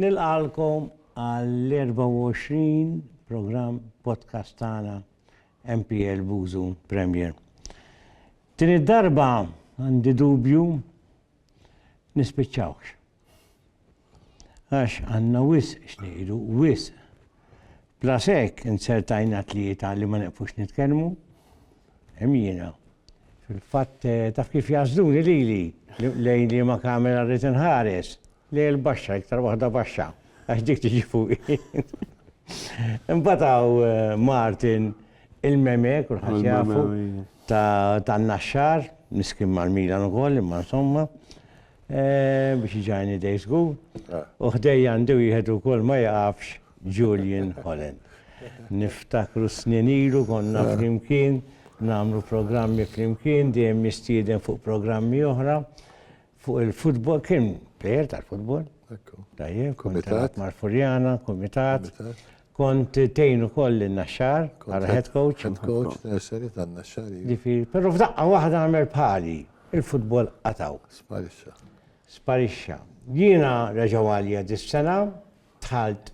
Nilqagħlkom għall-24 programm podcast tagħna MPL Bużu Premier. Din id-darba għandi dubju nispiċċawx. Għax għandna wisq x'ngħidu, wisq. Bla sekk insertajna tlieta li ma neqfux nitkellmu. Hemm jiena. Fil-fatt eh, taf kif jażduni lili lejn li ma kamera rrid inħares. Le l-baxxa, iktar waħda baxxa, għax dik tiġi fuqi. Imbagħad hawn Martin il-meme, kulħadd jafu, tan-Naxxar, miskin mal-Milan ukoll, imma insomma, biex iġajni dej żgur. U ħdejja għandi wieħed ukoll ma jaqafx Julian Holland. Niftakru snin ilu konna flimkien, nagħmlu programmi flimkien, dejjem nistieden fuq programmi oħra. Fuq il-futbol kien plejer tal-futbol. Tajjeb, kont tat Marfurjana, Kumitat. Kont tejnu koll il-naxxar, għara head coach. Head coach, nursery tan-naxxar. Pero f'daqqa waħda għamel bħali, il-futbol qataw. Sparixxa. Sparixxa. Jiena reġaw għalija dis-sena, Dħalt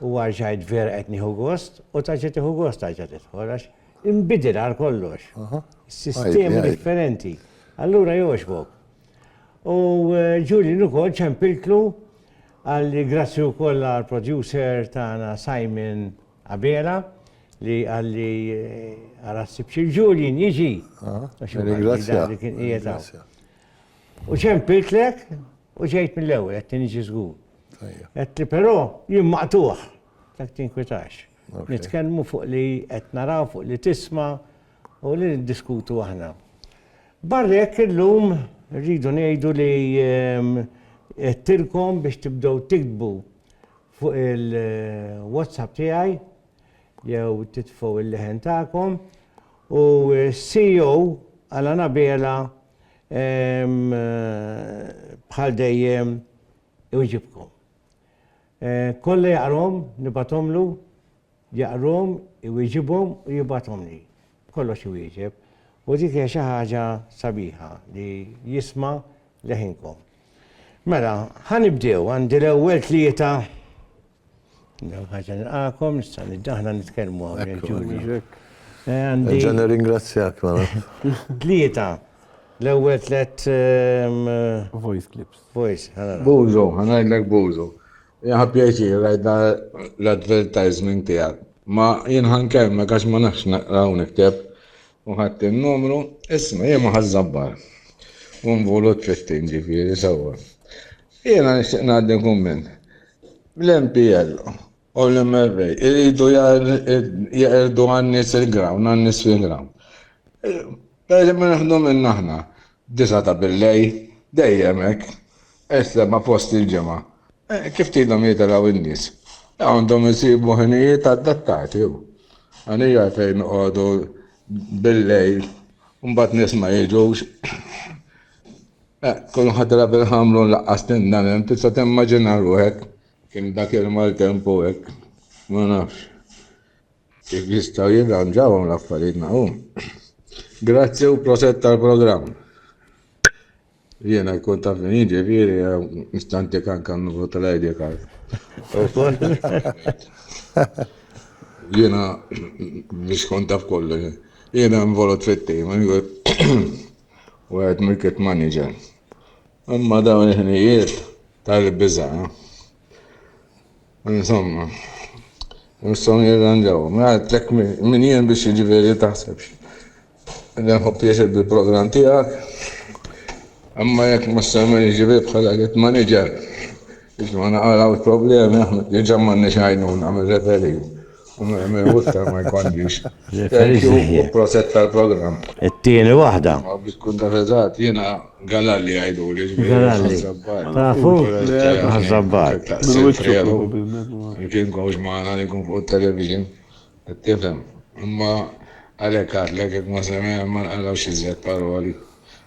u arġajt vera qed nieħu gost u ta' ġiet tieħu gost tarġa' tidħol għax inbidel għal kollox. Sistemi differenti. Allura jogħġbok. U eh, Julian ukoll ċempiltlu għal grazzi wkoll għal producer tagħna Simon Abela li għalli eh, għarassib xil Julian jiġi. Ah, Ringrazzja. U ċempilt lek u ġejt mill-ewwel qed tinġi żgur. Għetti, pero jien maqtuħ, dak tinkwitax. Nitkellmu fuq li qed naraw fuq li tisma u li niddiskutu aħna. Barrek illum rridu ngħidu li ehm, għettilkom biex tibdew tiktbu fuq il-WhatsApp tiegħi jew titfgħu il-leħen tagħkom u CEO għal Anabela ehm, bħal dejjem iwġibkom. Kollha jaqrahom nibgħathomlu, jaqrahom, iwieġibhom u jibgħathomli. Kollox iwieġeb. U dik hija xi ħaġa sabiħa li jisma' leħinkom. Mela, ħa nibdew, għandi l-ewwel tlieta Ħaġa nilqakom, nista' aħna nitkellmu hawnhekk Ġulju. Nerġa' nirringrazzjak mela. Tlieta. L-ewwel tliet voice clips. Voice, ħanara. Bużu, ħanajdlek Bużu. Jaħa pjaċir rajda l-advertisement tiegħek. Ma jien ħankellmek għax ma nafx naqra u nikteb. U ħadd in-numru, isma' jien ma ħażżabbar. U nvolut 15 ġifieri sewwa. Jiena nixtieq ngħaddi kumment. L-MPL u l-MRA jridu jeqirdu għan-nies il-ground, għan-nies fil-ground. Pereżempju nieħdu minn aħna, disgħa ta' billejl, dejjem hekk, is-seba' fost il-ġimgħa. Kif tridhom jitilgħu n-nies? Għandhom isibu ħinijiet adattati u. Għaliex għalfejn noqogħdu billejl u mbagħad nies ma jiġux? Tkun ħadra bil-ħamrun laqqas tindan hemm, tista' timmaġina ruħek? Kien dak il-maltempo hekk, ma nafx kif jistgħu jirranġawhom l-affarijiet naqum. Grazzi u proset tal-programm. Jiena jkun taf min jiġi fieri nistantik anke n-numru tal-ID card. Jiena biex kont taf kollu. Jiena involut fit-tim. u għedt mill-kit maniġer. Imma dawn il-ħnijiet tal-biża. Insomma, nistgħu nirranġaw. Għadlek min jien biex jiġifieri taħsebx. Nħobb pjaċir bil-programm tiegħek. Imma jekk ma semmen jiġifieri bħala kit maniġer biex ma naqalgħux problemi aħna diġà m'għandniex għajnuna mir-referee. Iktar ma jkollix. Thank you u proset tal-programm. It-tieni waħda. Ma biex tkun taf eżatt, jiena Galalli jgħiduli. Galalli. Tafu? Ħaż-Żabbar. Kien kowx magħna li jkun fuq it-television. Qed tifhem. Imma għalhekk għadlek jekk ma semgħex ma nqalgħux iżjed paroli.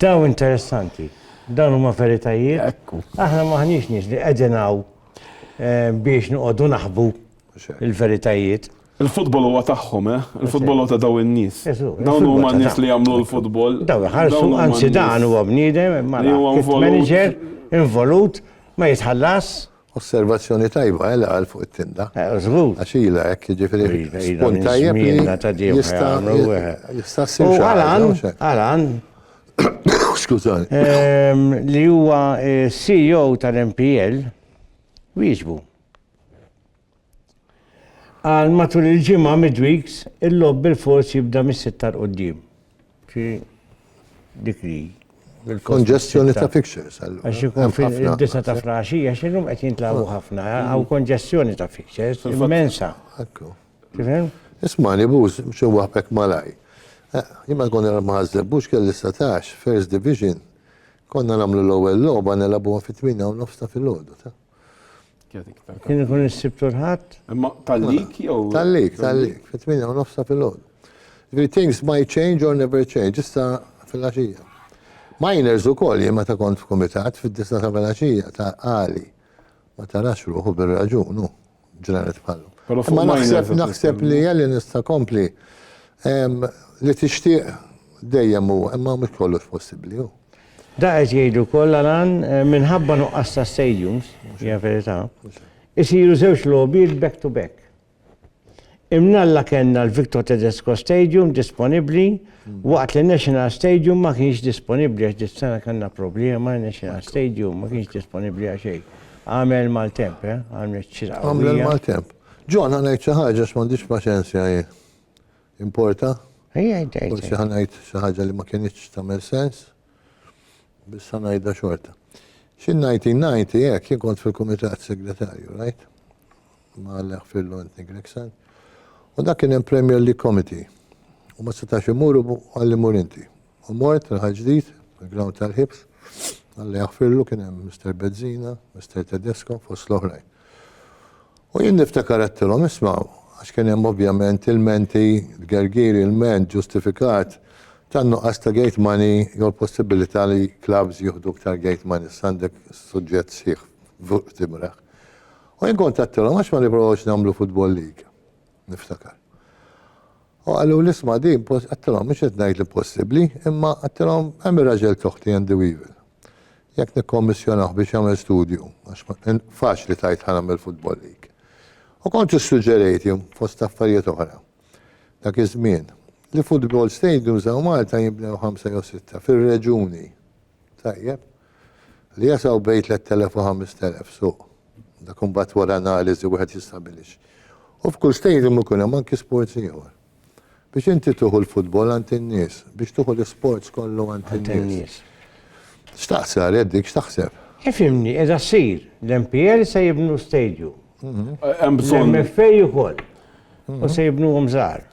Dawn interessanti. Dawn huma veritajiet. Ekku. Aħna maħniex nies li qegħdin hawn eh, biex noqogħdu naħbu il-veritajiet. Il-futbol huwa tagħhom, eh? Il-futbol huwa ta' daw in-nies. Dawn huma n-nies li jagħmlu l-futbol. Daw ħarsu anzi dan huwa bniedem, mara manager involut ma jitħallas. Osservazzjoni tajba, eh, li qal fuq it-tinda. Eh, żgur. Għax ilha hekk, jiġifieri spunt tajjeb li jista' jista' ssir xi Alan, Alan. Skużani. Ehm, li huwa eh, CEO tal-MPL, wieġbu. Għal matul il-ġimgħa midweeks, il-logħob bilfors jibda mis-sitta 'l quddiem. Xi dik li bilfors. Konġestjoni ta' fixtures allura. Għax ikun fil-disa ta' flaxija, x'illum qed jintlagħbu ħafna, hawn konġestjoni ta' fixtures immensa. Ekku. Tifhem? Ismani buz, xi waħbek malaj. Jien ma konna ma' Ħaż-Żebbux kelli satax, First Division, konna nagħmlu l-ewwel logħba nilagħbuha fit-tmienja u nofs ta' filgħodu. Kien ikun is-sibtu l-ħadd? Imma tal-lik jew? Tal-lik, tal-lik, fit-8 u nofsa fil-ħodu. Ġifieri things might change or never change, issa fil-għaxija. Miners ukoll jien meta kont f'kumitat fid-disa ta' fil-għaxija ta' qali. Ma tarax ruħu bir-raġun hu. ġranet bħallu. Ma naħseb naħseb li jgħalli nista kompli li tixtieq dejjem u imma mhux kollox possibbli hu. Da qed jgħidu kollha lan eh, minħabba nuqqas ta' stadiums, hija verità, isiru żewġ logħbiet back to back. Imnalla kellna l-Victor Tedesco Stadium disponibbli waqt li National Stadium ma kienx disponibbli għax dis-sena kellna problema National Stadium ma kienx disponibbli għax xejn. Għamel maltemp, eh? Għamel ċira. Għamel maltemp. Ġon ħanajt xi ħaġa x'm'għandix paċenzja hi. Importa? Ejja, ejja. Forsi ħanajt xi ħaġa li ma kienitx tagħmel sens. Biss ħanajda xorta. Xi 1990 hekk jien kont fil-Kumitat Segretarju, right? ma' Aleħ Fillu Anthony Gregson. U dak kien hemm Premier League Committee. U ma setax imuru għalli mur inti. U mort il-ħal ġdid, il-ground tal-ħibs, għalli jaħfirlu kien hemm Mr. Bezzina, Mr. Tedesco, fost l-oħrajn. U jien niftakar għattilhom ismaw, għax kien hemm ovvjament il-menti, gergiri, il-ment ġustifikat tan nuqqas ta' gate money jew l-possibilità li clubs jieħdu ktar gate money, sandek suġġett sħiħ fuq timraħ. U jien kont għedtilhom għax ma nipprovawx nagħmlu futbol liga, niftakar. U qaluli isma' din għedtilhom mhux qed ngħid li possibbli, imma għedtilhom hemm ir-raġel t'oħti Andy Weevil. Jekk nikkommissjonah biex jagħmel studju, għax faċli tgħid ħa nagħmel futbol liga. U kont issuġġerejt jien, fost affarijiet oħra, dak iż-żmien, li futbol stadiums hawn Malta jinbnew ħamsa jew sitta fir-reġuni. Tajjeb. Li jasgħu bejn 3,000 u 5,000 suq. Dak imbagħad wara analiżi wieħed jistabilix. U f'kull stadium ikun hemm anki sports ieħor. Biex inti tieħu l-futbol għand in-nies, biex tieħu l-isports kollu għand in-nies. X'taqsar, Eddy, x'taħseb? Ifhimni, qiegħda ssir. L-MPL se jibnu stadium. Hemm bżonn. L-MFA ukoll. U se jibnuhom żgħar.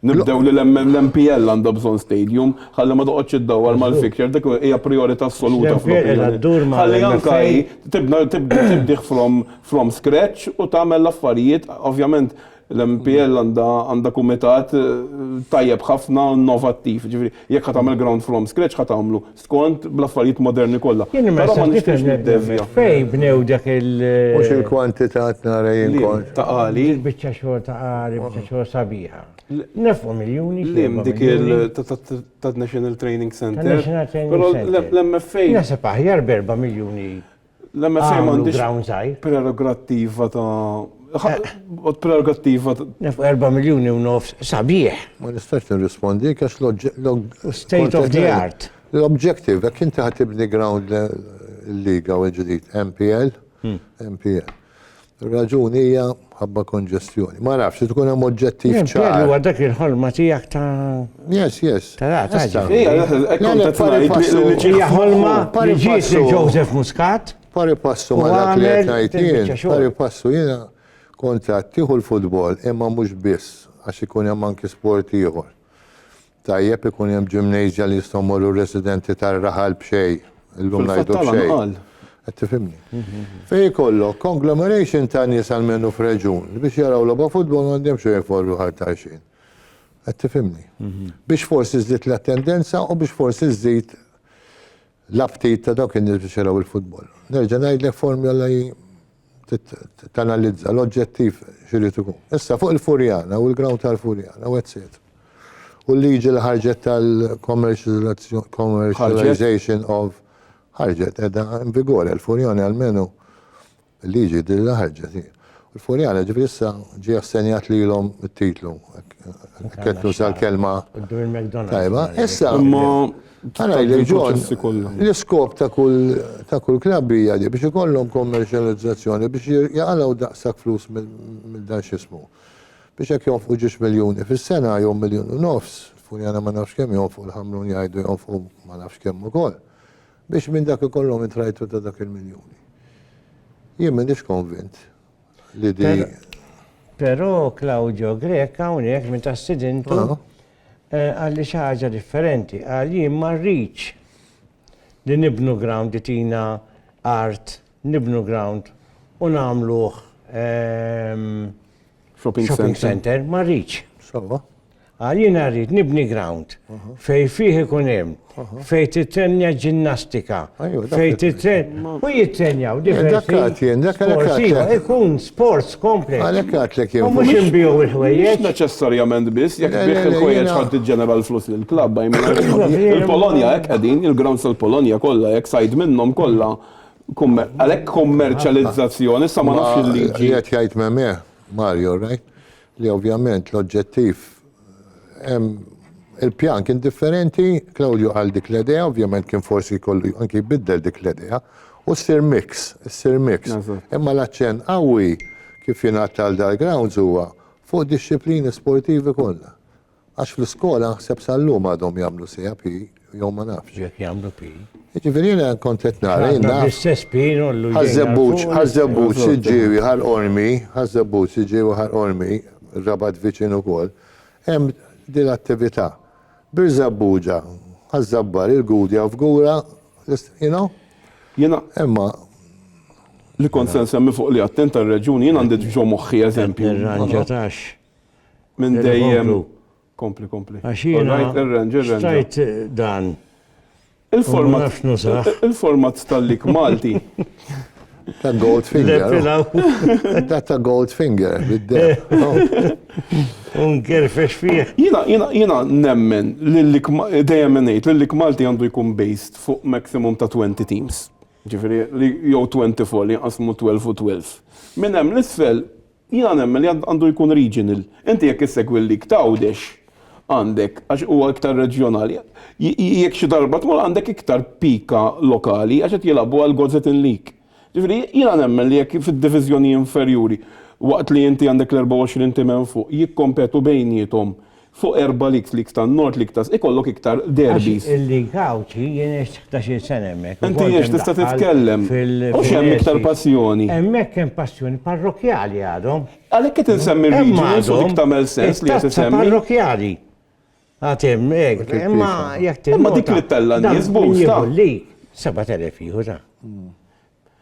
Nibdew li l-MPL għandha bżonn stadium, ħalli ma toqgħodx iddawwar mal-fixture, dik hija prijorità assoluta fl-opinjoni tiegħi. Ħalli anke hi tibna, tibdih from scratch u tagħmel l-affarijiet, ovvjament l-MPL għandha kumitat tajjeb ħafna u innovattiv, jiġifieri jekk ħa tagħmel ground from scratch ħa tagħmlu. skont bl-affarijiet moderni kollha. Jien imma issa bdiet nirrefletti fejn bnew dak il- Mhux il-kwantità tnara jien kont. Ta' qari. Dik il-biċċa xogħol ta' qari, biċċa xogħol sabiħa. Nefqu miljuni xi erba' miljuni. Dik tad-National Training Centre. Tad-National Training Centre. Però l-MFA. Naħseb aħjar b'erba' miljuni L-MFA m'għandhiex prerogattiva ta' prerogattiva ta' 4 miljuni u nofs sabiħ. Ma nistax nirrispondi għax l-oġġettiv. State of the art. L-objective, jekk inti ħa tibni ground il-liga u l-ġdid, MPL, MPL. Ir-raġuni hija mħabba konġestjoni. Ma nafx, tkun hemm oġġettiv ċar. Jien li huwa dak il-ħolma tiegħek ta' Yes, yes. Ta' ra, ta' ġi. Hija, hekk kont qed ngħid. Hija ħolma li ġiet li Joseph Muscat. Pari passu ma dak li qed ngħid jien. Pari passu jiena kont qed tieħu l-futbol imma mhux biss għax ikun hemm anki sport ieħor. Tajjeb ikun hemm ġimnejżja li jistgħu jmorru r-residenti tar-raħal b'xejn, illum ngħidu b'xejn. Qed tifhimni? Fejn ikollok conglomeration ta' nies almenu f'reġjun li biex jaraw logħba futbol m'għandhomx xejn iforru ħar t'għajxien. Qed tifhimni? Biex forsi żżid l-attendenza u biex forsi żżid La ftit ta' dawk in-nies biex jaraw il-futbol. Nerġa' ngħidlek formjola hi tanalizza l-oġġettiv x'irid ikun. Issa fuq il-Furjana u l-ground tal-Furjana u etc. U l-liġi li ħarġet tal-commercialization of ħarġet edha in vigore l-Furjana almenu Il-liġi din li ħarġet hi. U l-Furjana ġifieri issa ġie assenjat lilhom it-titlu. Hekk qed nuża l-kelma. Tajba, issa. Imma Ara jgħidlek John, l-iskop ta' kull klabb hija li biex ikollhom kommerċjalizzazzjoni biex jaqalgħu daqshekk flus minn dan x'ismu. Biex hekk jonfqu ġiex miljuni fis-sena jew miljun u nofs, Furjana ma nafx kemm jonfqu l-Ħamrun jgħidu jonfqu ma nafx kemm ukoll. Biex minn dak ikollhom intrajtu ta' dak il-miljuni. Jien m'inix konvint li di. Però Claudio Greka hawnhekk minn ta' sidintu għalli xi ħaġa differenti. Qal jien ma rridx li nibnu ground li tina art, nibnu ground u nagħmluh shopping center, ma rridx. Għal jiena rrid nibni ground fej fih ikun hemm, fej titrenja ġinnastika, fej titrenja. U jitrenjaw diversi. Sportiva, ikun sports complex. Għalek għatlek jew. Mux imbiju il-ħwejjeġ. Neċessarjament biss, jek bieħ il-ħwejjeġ ħad ġenera l-flus l-klab. Il-Polonia, ek għedin, il-ground sal-Polonia kolla, jek sajd minnom kolla. Għalek kommerċalizzazzjoni, sa ma nafx il-liġi. Jgħet jgħajt memieħ, Mario, right? li ovvjament l-oġġettiv hemm il-pjan kien differenti, Claudio qal dik l-idea, ovvjament kien forsi jkollu anki jbiddel dik l-idea, u ssir mix, issir mix. Imma l-aċċenn qawwi kif jingħad għal dal-grounds huwa fuq dixxiplini sportivi kollha. Għax fl-iskola naħseb sal-lum għadhom jagħmlu sija pi, jew ma nafx. Jekk jagħmlu pi. Jiġifieri jiena kont qed nara jien naf. Bl-istess pi nollu jdejna. Ħaż-żebbuġ, ħaż-żebbuġ siġġiewi ħal qormi, ħaż-żebbuġ siġġiewi ħal qormi, ir-Rabat viċin ukoll, hemm din l-attività. Bir-żebbuġa, ħaż-żabbar, il-Gudja f'gura, you know? Jiena. Imma. Li kont se nsemmi fuq li għadt int tar-reġjuni, jien għandi ġo moħħi eżempju. Irranġa tax. Minn dejjem. Kompli, kompli. Stajt dan. Il-format. Il-format tal-lik Malti. Ta' Goldfinger. Ta' ta' Goldfinger, bid-deb. Unker fex fih. Jina, jina, jina nemmen l-lik, dejjem menejt, l-lik Malti għandu jkun based fuq maximum ta' 20 teams. Ġifiri, jow 24 li jqasmu 12 u 12. Minn hemm l-isfel, Jiena nemmen li għandu jkun regional. Inti jekk issegwi l-Lig t'Għawdex għandek, għax huwa iktar reġjonali, jekk xi darba tmur għandek iktar pika lokali għax qed jilagħbu għal Gozetin League. Ġifieri jiena nemmen li jekk fid-diviżjoni inferjuri waqt li inti għandek l-24 tim hemm fuq jikkompetu bejniethom Fuq erba' leagues, leagues tan-Nord, league ta' ikollok iktar derbys. Għax il-League Għawdxi jien għext ħdax-il sena hemmhekk. Inti għext tista' titkellem. Hux hemm iktar passjoni. Hemmhekk hemm passjoni parrokkjali għadhom. Għalhekk qed insemmi r-regionals u dik tagħmel sens li qed isemmi. It-tazza parrokkjali għad hemm hekk. Imma jekk tinnota. Imma dik li ttella' n-nies b'hust. Min jieħu l-league? 7,000 jieħu ta'.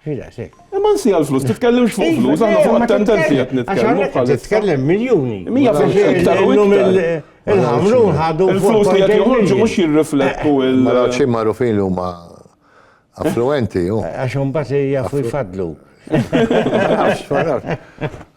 Ħiles, eh. Imma nsi għal-flus, titkellimx fuq flus, għanna fuq attendenti għat nitkellmu. Għaxar titkellem miljoni. Mija fuq iktar u iktar. Il-ħamrun ħadu. Il-flus li għat joħorġu mux jirriflettu eh, il- Mara ċi marufin u ma affluenti. Eh, għaxum bat jaffu jfadlu.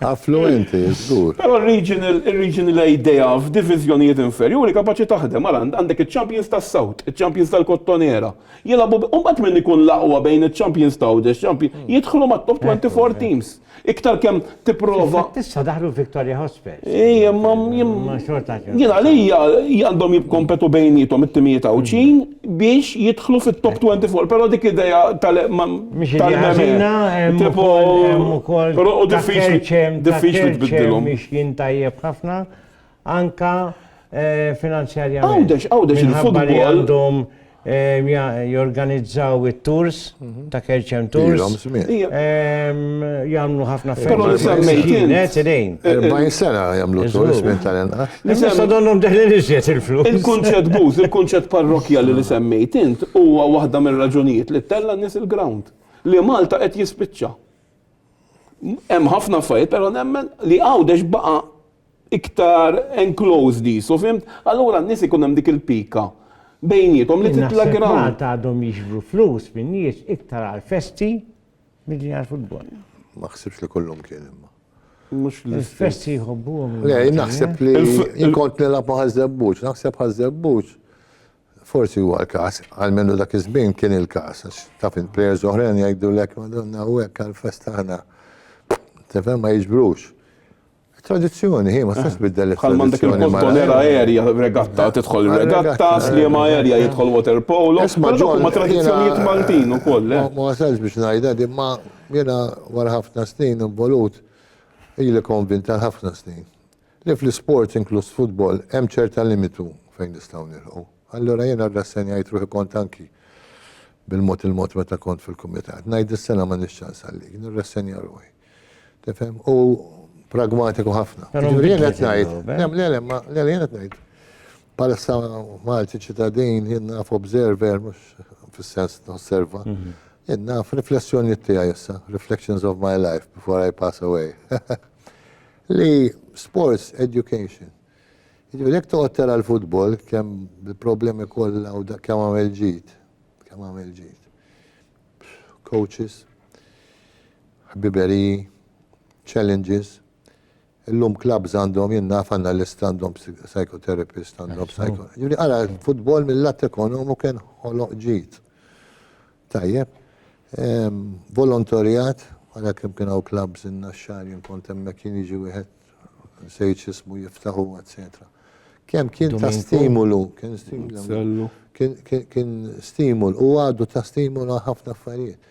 Affluenti, zgur. Pero il-regional idea f'divizjonijiet inferjuri kapaċi taħdem, għal għandek il-champions tas-South, il-champions tal-Kottonera, Jilagħbu bi, u mbagħad min ikun l-aqwa bejn iċ-champions ta' Għawdex champion, jidħlu mat-top 24 teams. Iktar kemm tipprova. Infatti issa daħlu Victoria Hospes. Ejja, imma jien. Imma xorta xorta. Jien għalija għandhom jikkompetu bejniethom it-timijiet Għawdxin biex jidħlu fit-top 24, però dik idea tal. Mhix idea ħażina, hemm ukoll hemm ukoll. Però hu diffiċli. Ta' Kerċem, ta' Kerċem mixjin tajjeb ħafna, anka finanzjarjament. Għawdex, għawdex il-futbol. Li għandhom jorganizzaw it-tours mhm. ta' Kerċem Tours. Jamlu ħafna ferma. Net idejn. 40 sena jamlu tours minn tal-enqa. Nisa donnom deħli nixjet il-flus. Il-kunċet buz, il-kunċet parrokja li semmejt int huwa waħda mir-raġunijiet li tella nis il-ground. Li Malta qed jispiċċa. Hemm ħafna fajt, però nemmen li għawdex baqa' iktar enclosed qisu, fhimt? Allura n-nies ikun hemm dik il-pika bejniethom li titla' ground. Jien naħseb Malta għadhom jiġbru flus min-nies iktar għall-festi milli għall-futbol. Ma ħsibx li kullum kien imma. Mhux l-istess. Il-festi jħobbuhom. Le, jien naħseb li jien kont nilgħab ma' Ħaż-Żebbuġ, naħseb Ħaż-Żebbuġ forsi huwa l-każ, għalmenu dak iż-żmien kien il-każ, għax taf il-plejers oħrajn jgħidulek madonna u hekk għall-festa aħna. Tifhem ma jiġbrux. Tradizzjoni, hi, ma tistax tbiddel it-tradizzjoni. Bħal m'għandek il-Boston era aerja regatta, tidħol regatta, sliem aerja jidħol water polo. Isma' ġol. Ma tradizzjonijiet Maltin ukoll. Ma wasalx biex ngħidha din, ma jiena wara ħafna snin involut, ili konvint għal ħafna snin, li fl-isports inkluż futbol hemm ċerta limitu fejn nistgħu nilħqu. Allura jiena rrassenjajt ruħi kont anki bil-mod il-mod meta kont fil-kumitat. Ngħid is-sena m'għandix ċans għalik, nirrassenja ruħi. Tifhem? U pragmatiku ħafna. Jiġifieri jien qed ngħid, le le le, ma le jien qed ngħid. Bħalissa Malti ċittadin jien naf observer mhux fis-sens nosserva. Mhm. Jien naf riflessjonijiet tiegħi issa, reflections of my life before I pass away. Li sports education. Jiġifieri jekk toqgħod tara l-futbol kemm il-problemi kollha u kemm għamel ġid, kemm għamel ġid. coaches, ħbiberiji, challenges. Illum clubs għandhom jinnaf analyst għandhom psychotherapist għandhom psycho. Ġuri għara futbol mill-lat ekonomu kien ħoloq ġit. Tajjeb. Ehm, volontorijat, għara kem kien għaw clubs in-naxxar jien kont hemmhekk jien jiġi wieħed nsejt x'ismu jiftaħu, eċċetera. Kemm kien ta' stimulu, kien stimulu, kien stimul u għadu ta' stimulu ħafna affarijiet.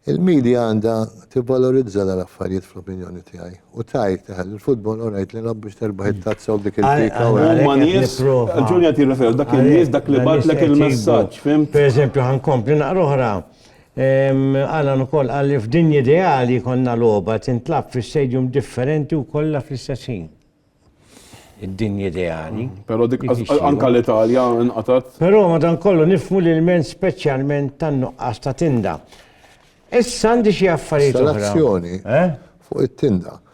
Il-medja għandha tibvalorizza l-affarijiet fl-opinjoni tiegħi. U tajt, eh, il-futbol orajt li nab biex terbaħ it-tazza u dik il-pika. Huma nies, ġunja tirreferu, dak il-nies dak li batlek il-messaġġ, fim. Per eżempju, ħankompli naqra oħra. Alan ukoll qal li f'dinja ideali jkollna logħba tintlagħab fi stadium differenti u kollha fl-istess ħin. Id-dinja ideali. Però dik anke l-Italja nqatgħet. Però madankollu nifhmu l-ilment speċjalment tan-nuqqas ta' tinda. Issa għandi xi affarijiet oħra. Installazzjoni fuq it-tinda.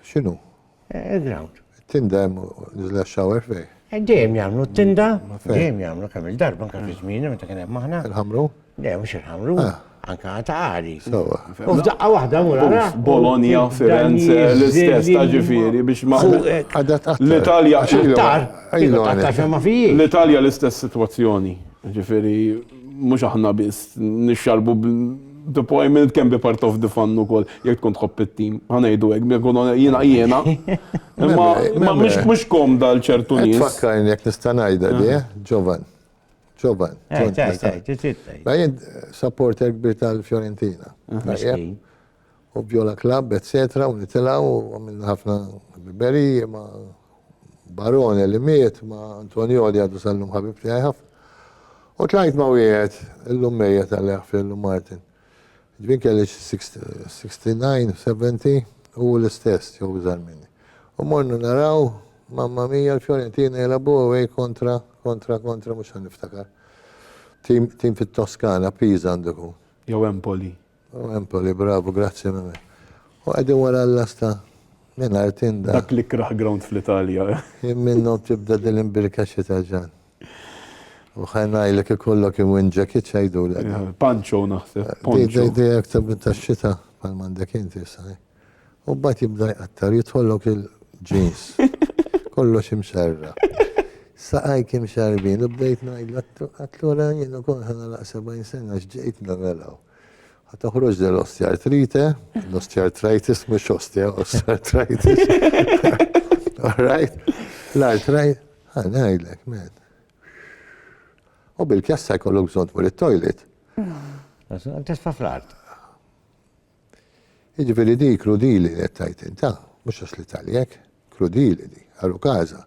X'inhu? Il-ground. Tinda hemm niżla shower fej. Eh, dejjem jagħmlu t-tinda, dejjem jagħmlu kemm il-darba anke fi żmieni meta kien hemm aħna. Il-ħamru? Dejjem mhux il-ħamru, ah. anke ta' għali. Sewa. U f'daqqa waħda mura. Bologna, Firenze, l-istess ta' ġifieri biex ma' l-Italja x'iktar. L-Italja l-istess sitwazzjoni. Ġifieri mhux aħna biss nixxarbu The Poignant can be part of the fun ukoll, jekk tkun tħobb it-tim, ħa ngħidu hekk, biex nkunu jiena jiena. Imma imma mhux mhux komda għal ċertu Qed nies. tfakkarni jekk nista' ngħidha di, eh? Ġovan. Ġovan. Eh, Ġovan, tgħid, tista' tgħid, tgħid, tgħid, tgħid. Jien supporter kbir tal-Fiorentina. Tajjeb? Miskin. u Viola Club etc u nitilgħu u għamilna ħafna ħbiberiji ma' Barone li miet ma' Antonioli għadu sal-lum ħabib tiegħi ħafna. U tlajt ma' wieħed illum mejjet għalih Firlu Martin. Ġbin kelli 69, 70 u l-istess jew iżgħar minni. U mornu naraw mamma mija l-Fiorentina jelabu away kontra kontra kontra mhux ħan niftakar. Tim fit-Toskana, Pisa għandu jkun. Jew Empoli. U Empoli, bravu, grazzi Mimmi. U qegħdin wara l-lasta mingħajr tinda. Dak l-ikrah ground fl-Italja. Jien minnhom tibda din l-imbirka xita ġan. U ħa ngħidlek ikollok imwin ġakit x'għidulek. Panċo naħseb. Di di di aktar minn tax-xita bħal m'għandek inti issa. U mbagħad jibda jqattar, jidħollok il-ġins. Kollox imxarra. Saqajk imxarbin, u bdejt ngħidlu, għatlura jien ukoll ħanalaq 70 sena x'ġejt nagħmelaw. Ħa toħroġ del osteartrite, l-osteartritis mhux ostea, osteartritis. Alright? L-artrite, ħa ngħidlek, man. U bil-kjassa jkollok bżonn tmur it-toilet. Tisfa fl-art. Jiġifieri di krudili li qed tgħid int, ha? Mhux għax l-Italja hekk. Krudili di, għalu każha.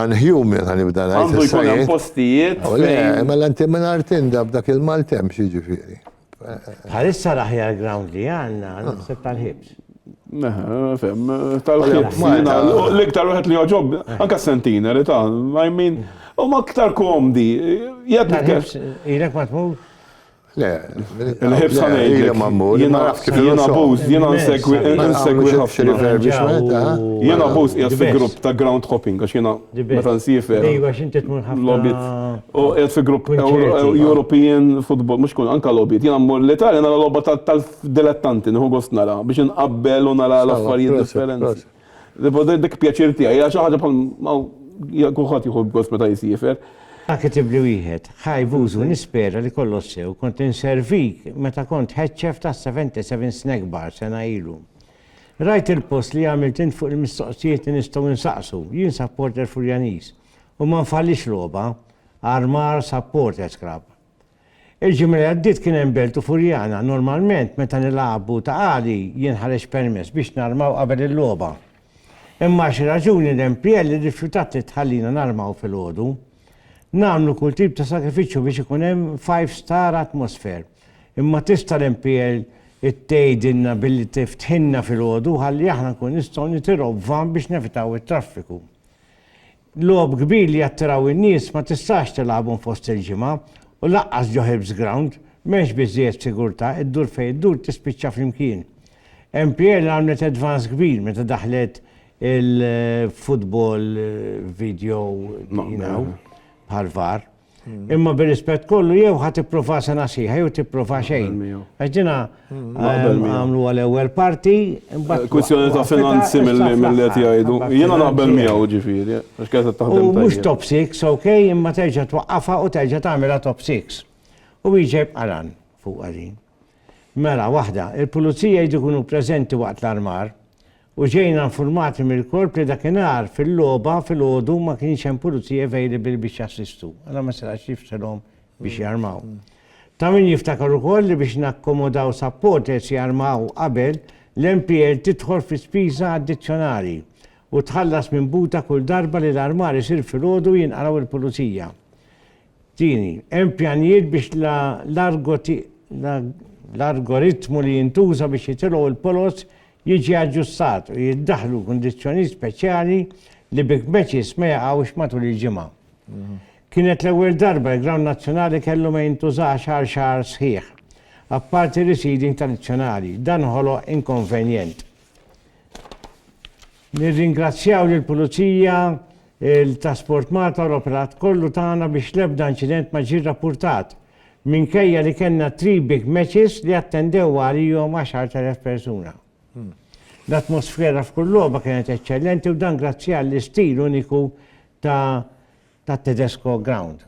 Unhuman ħa nibda ngħid. Għandu jkun hemm postijiet. Le, mela inti mingħajr tinda b'dak il-maltemp jiġifieri. Bħalissa l-aħjar ground li għandna naħseb tal-ħibs. Fem, tal-ħibs. L-iktar wieħed li joġob, anke s-sentina li ta' I mean, u ma iktar komdi. Jgħid li. Ilek ma tmur? Le, il-ħibsa ngħidlek. Jiena jiena buż, jiena nsegwi nsegwi ħafna. Jiena buż qiegħed fi grupp ta' ground hopping għax jiena meta nsiefer. Logħbiet. U qiegħed fi grupp European football, mhux kull anke logħbiet. Jiena mmur l-Italja nara logħba tal-dilettanti, nieħu gost nara biex inqabbel u nara l-affarijiet differenti. Dik pjaċir tiegħi, hija xi ħaġa bħal ma kulħadd jieħu gost meta jisiefer. Dak it-tibli wieħed, ħaj b'użu nispera li kollox sew, kont inservik meta kont head chef ta' 77 Snack Bar sena ilu. Rajt il-post li għamilt int fuq il-mistoqsijiet li nistgħu nsaqsu, jien supporter Furjaniż u ma nfallix logħba, Armar Supporters Club. Il-ġimgħa li għaddiet kien hemm belt u furjana. Normalment meta nilagħbu ta' għali jinħareġ permess biex narmaw qabel il-logħba. Imma għal xi raġuni l-MPL irrifjutat li tħallina narmaw filgħodu. Nagħmlu kull tip ta' sagrifiċċju biex ikun hemm five star atmosphere. Imma tista' l-MPL tgħidilna billi tiftħilna filgħodu ħalli aħna nkunu nistgħu nitilgħu b'van biex nevitaw it-traffiku. Logħob kbir li jattiraw in-nies ma tistax tilagħbhom fost il-ġimgħa u lanqas ġo Hibs Ground, m'hemmx biżżejjed sigurtà, iddur fejn iddur tispiċċa flimkien. MPL għamlet advance kbir meta daħħlet il-football video, you know, bħal-VAR. Imma bir-rispett kollu jew ħa tipprova sena sħiħa jew tipprova xejn. Għax dina għamlu għal ewwel parti, imbagħad. Kwistjoni ta' finanzi mill-li qed jgħidu. Jiena naqbel miegħu ġifieri, għax kienet qed taħdem. Mhux top six, ok, imma terġa' twaqqafha u terġa' tagħmilha top six. U wieġeb qaran fuq din. Mela waħda, il-pulizija jridu jkunu preżenti waqt l-armar u ġejna infurmati mill-Korp li dakinhar fil-logħba filgħodu ma kienx hemm Pulizija available biex jassistu, allura ma setax jifsilhom biex jarmaw. Ta' min jiftakar ukoll li biex nakkomodaw supporters jarmaw qabel, l-MPL tidħol fi spiża addizzjonali u tħallas minn buta kull darba li l-armar isir filgħodu u jinqalgħu l-Pulizija. Tieni, hemm pjanijiet biex l-argoritmu li jintuża biex jitilgħu l-polos jiġi aġġustat u jiddaħħlu kundizzjonijiet speċjali li bi kbeċis ma jaqgħux matul il-ġimgħa. Kienet l-ewwel darba li grawnd nazzjonali kellu ma jintużax għal xahar sħiħ, apparti reseeding tradizzjonali, dan ħoloq inkonvenjent. Nirringrazzjaw lill-Pulizija, Il-Taskforce Malta l-operat kollu tagħna biex l-ebda inċident ma ġie rrappurtat, minkejja li kellna three big matches li attendew għalihom 10,000 persuna. L-atmosfera f'kull logħba kienet eċċellenti u dan grazzi għall-istil uniku ta' tat-Tedesco Ground.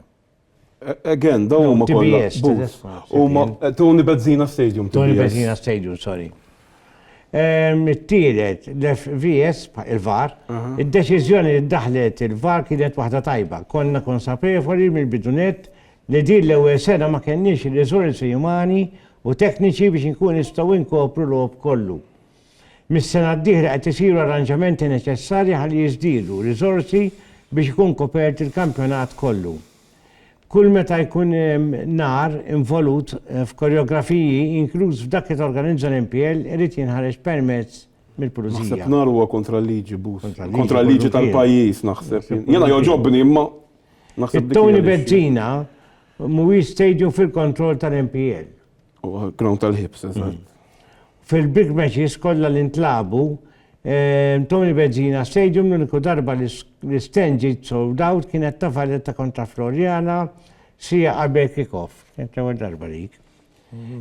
Again, dawn huma kollha. TBS, TBS. Huma Tony Bezzina Stadium. Tony Bezzina Stadium, sorry. It-tielet, l-FVS, il-VAR, id-deċiżjoni li ddaħlet il-VAR kienet waħda tajba. Konna konsapevoli mill-bidunet li din l-ewwel sena ma kenniex ir-riżorsi umani u tekniċi biex inkunu nistgħu nkopru l-logħob kollu. Mis-sena d-dieħla qed isiru arranġamenti neċessarji ħalli jiżdiedu riżorsi biex ikun kopert il-kampjonat kollu. Kull meta jkun hemm nar involut f'koreografiji, inkluż f'dak li torganizza l-MPL, irid jinħareġ permess mill-Pulizija. Naħseb nar huwa kontra l-liġi, Bus. Kontra l-liġi tal-pajjiż, naħseb. Jiena jogħġobni, imma naħseb dik hija l-issue. It-Toni Bezzina, Mhuwiex stadium fil-kontroll tal-MPL. U ground tal-ħibs, eżatt. Fil-big matches kollha li ntlabu, eh, Tony Bezzina Stadium l-uniku darba li l-stand ġiet sold out kienet ta' Valletta kontra Floriana sija qabel kick-off. Kienet l-ewwel darba dik.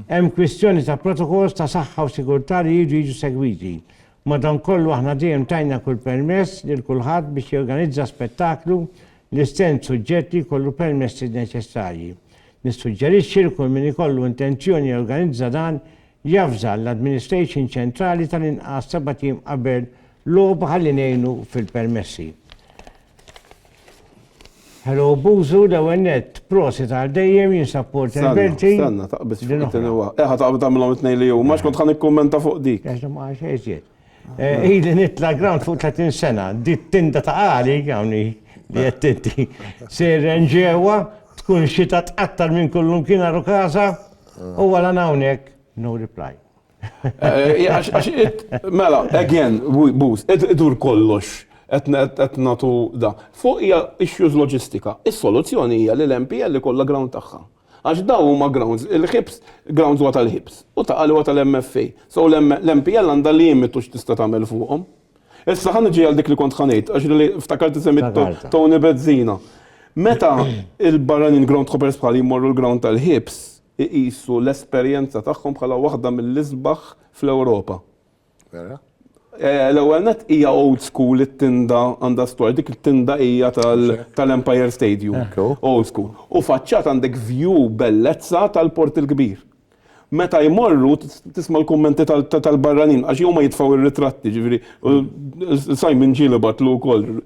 Hemm kwistjoni ta' protokols ta' saħħa u sigurtà li jridu jiġu segwiti. Madankollu aħna dejjem tajna kull permess lil kulħadd biex jorganizza spettaklu li stenn suġġett li jkollu permessi neċessarji. Nissuġġerixxi li kull min ikollu intenzjoni jorganizza dan javża l-administration ċentrali tal-inqas sebat jiem qabel logħba ħalli ngħinu fil-permessi. Hello Buzu, l-ewwel net, prosit għal dejjem jinsab Porter Belti. Stanna, taqbis xi tinwa. Eħa taqbis tagħmilhom it-tnejn li hu, ma xkont ħan ikkummenta fuq dik. Għax ma xejn jiet. Eh, ili nitla' ground fuq 30 sena, dit tinda ta' għali għawni li qed tinti. Sejren ġewwa, tkun xita tqattar minn kullum kien għaru kaza, u għala hawnhekk, no reply. Mela, again, boost, idur kollox, qed nagħtu da. Fuq hija issues loġistika. Is-soluzzjoni hija li l-MPL ikollha ground tagħha. Għax dawn huma grounds, il-ħibs, grounds huwa tal-ħibs, u ta' qalwa tal-MFA. So l-MPL għandha limitu x'tista' tagħmel fuqhom. Issa ħa niġi għal dik li kont ħa ngħid, għax li ftakart li semmiet Toni Bezzina. Meta l-barranin groundhoppers bħali jmorru l-ground tal-ħibs, iqisu l-esperjenza tagħhom bħala waħda mill-isbaħ fl-Ewropa. Vera? Eh, l-ewwel net hija old school it-tinda għandha storja, dik it-tinda hija tal-Empire Stadium. Old school. U faċċat għandek view bellezza tal-Port il-Kbir. Meta jmorru tisma' l-kummenti tal-barranin għax huma jitfgħu r-ritratti, ġifieri Simon Ġili batlu wkoll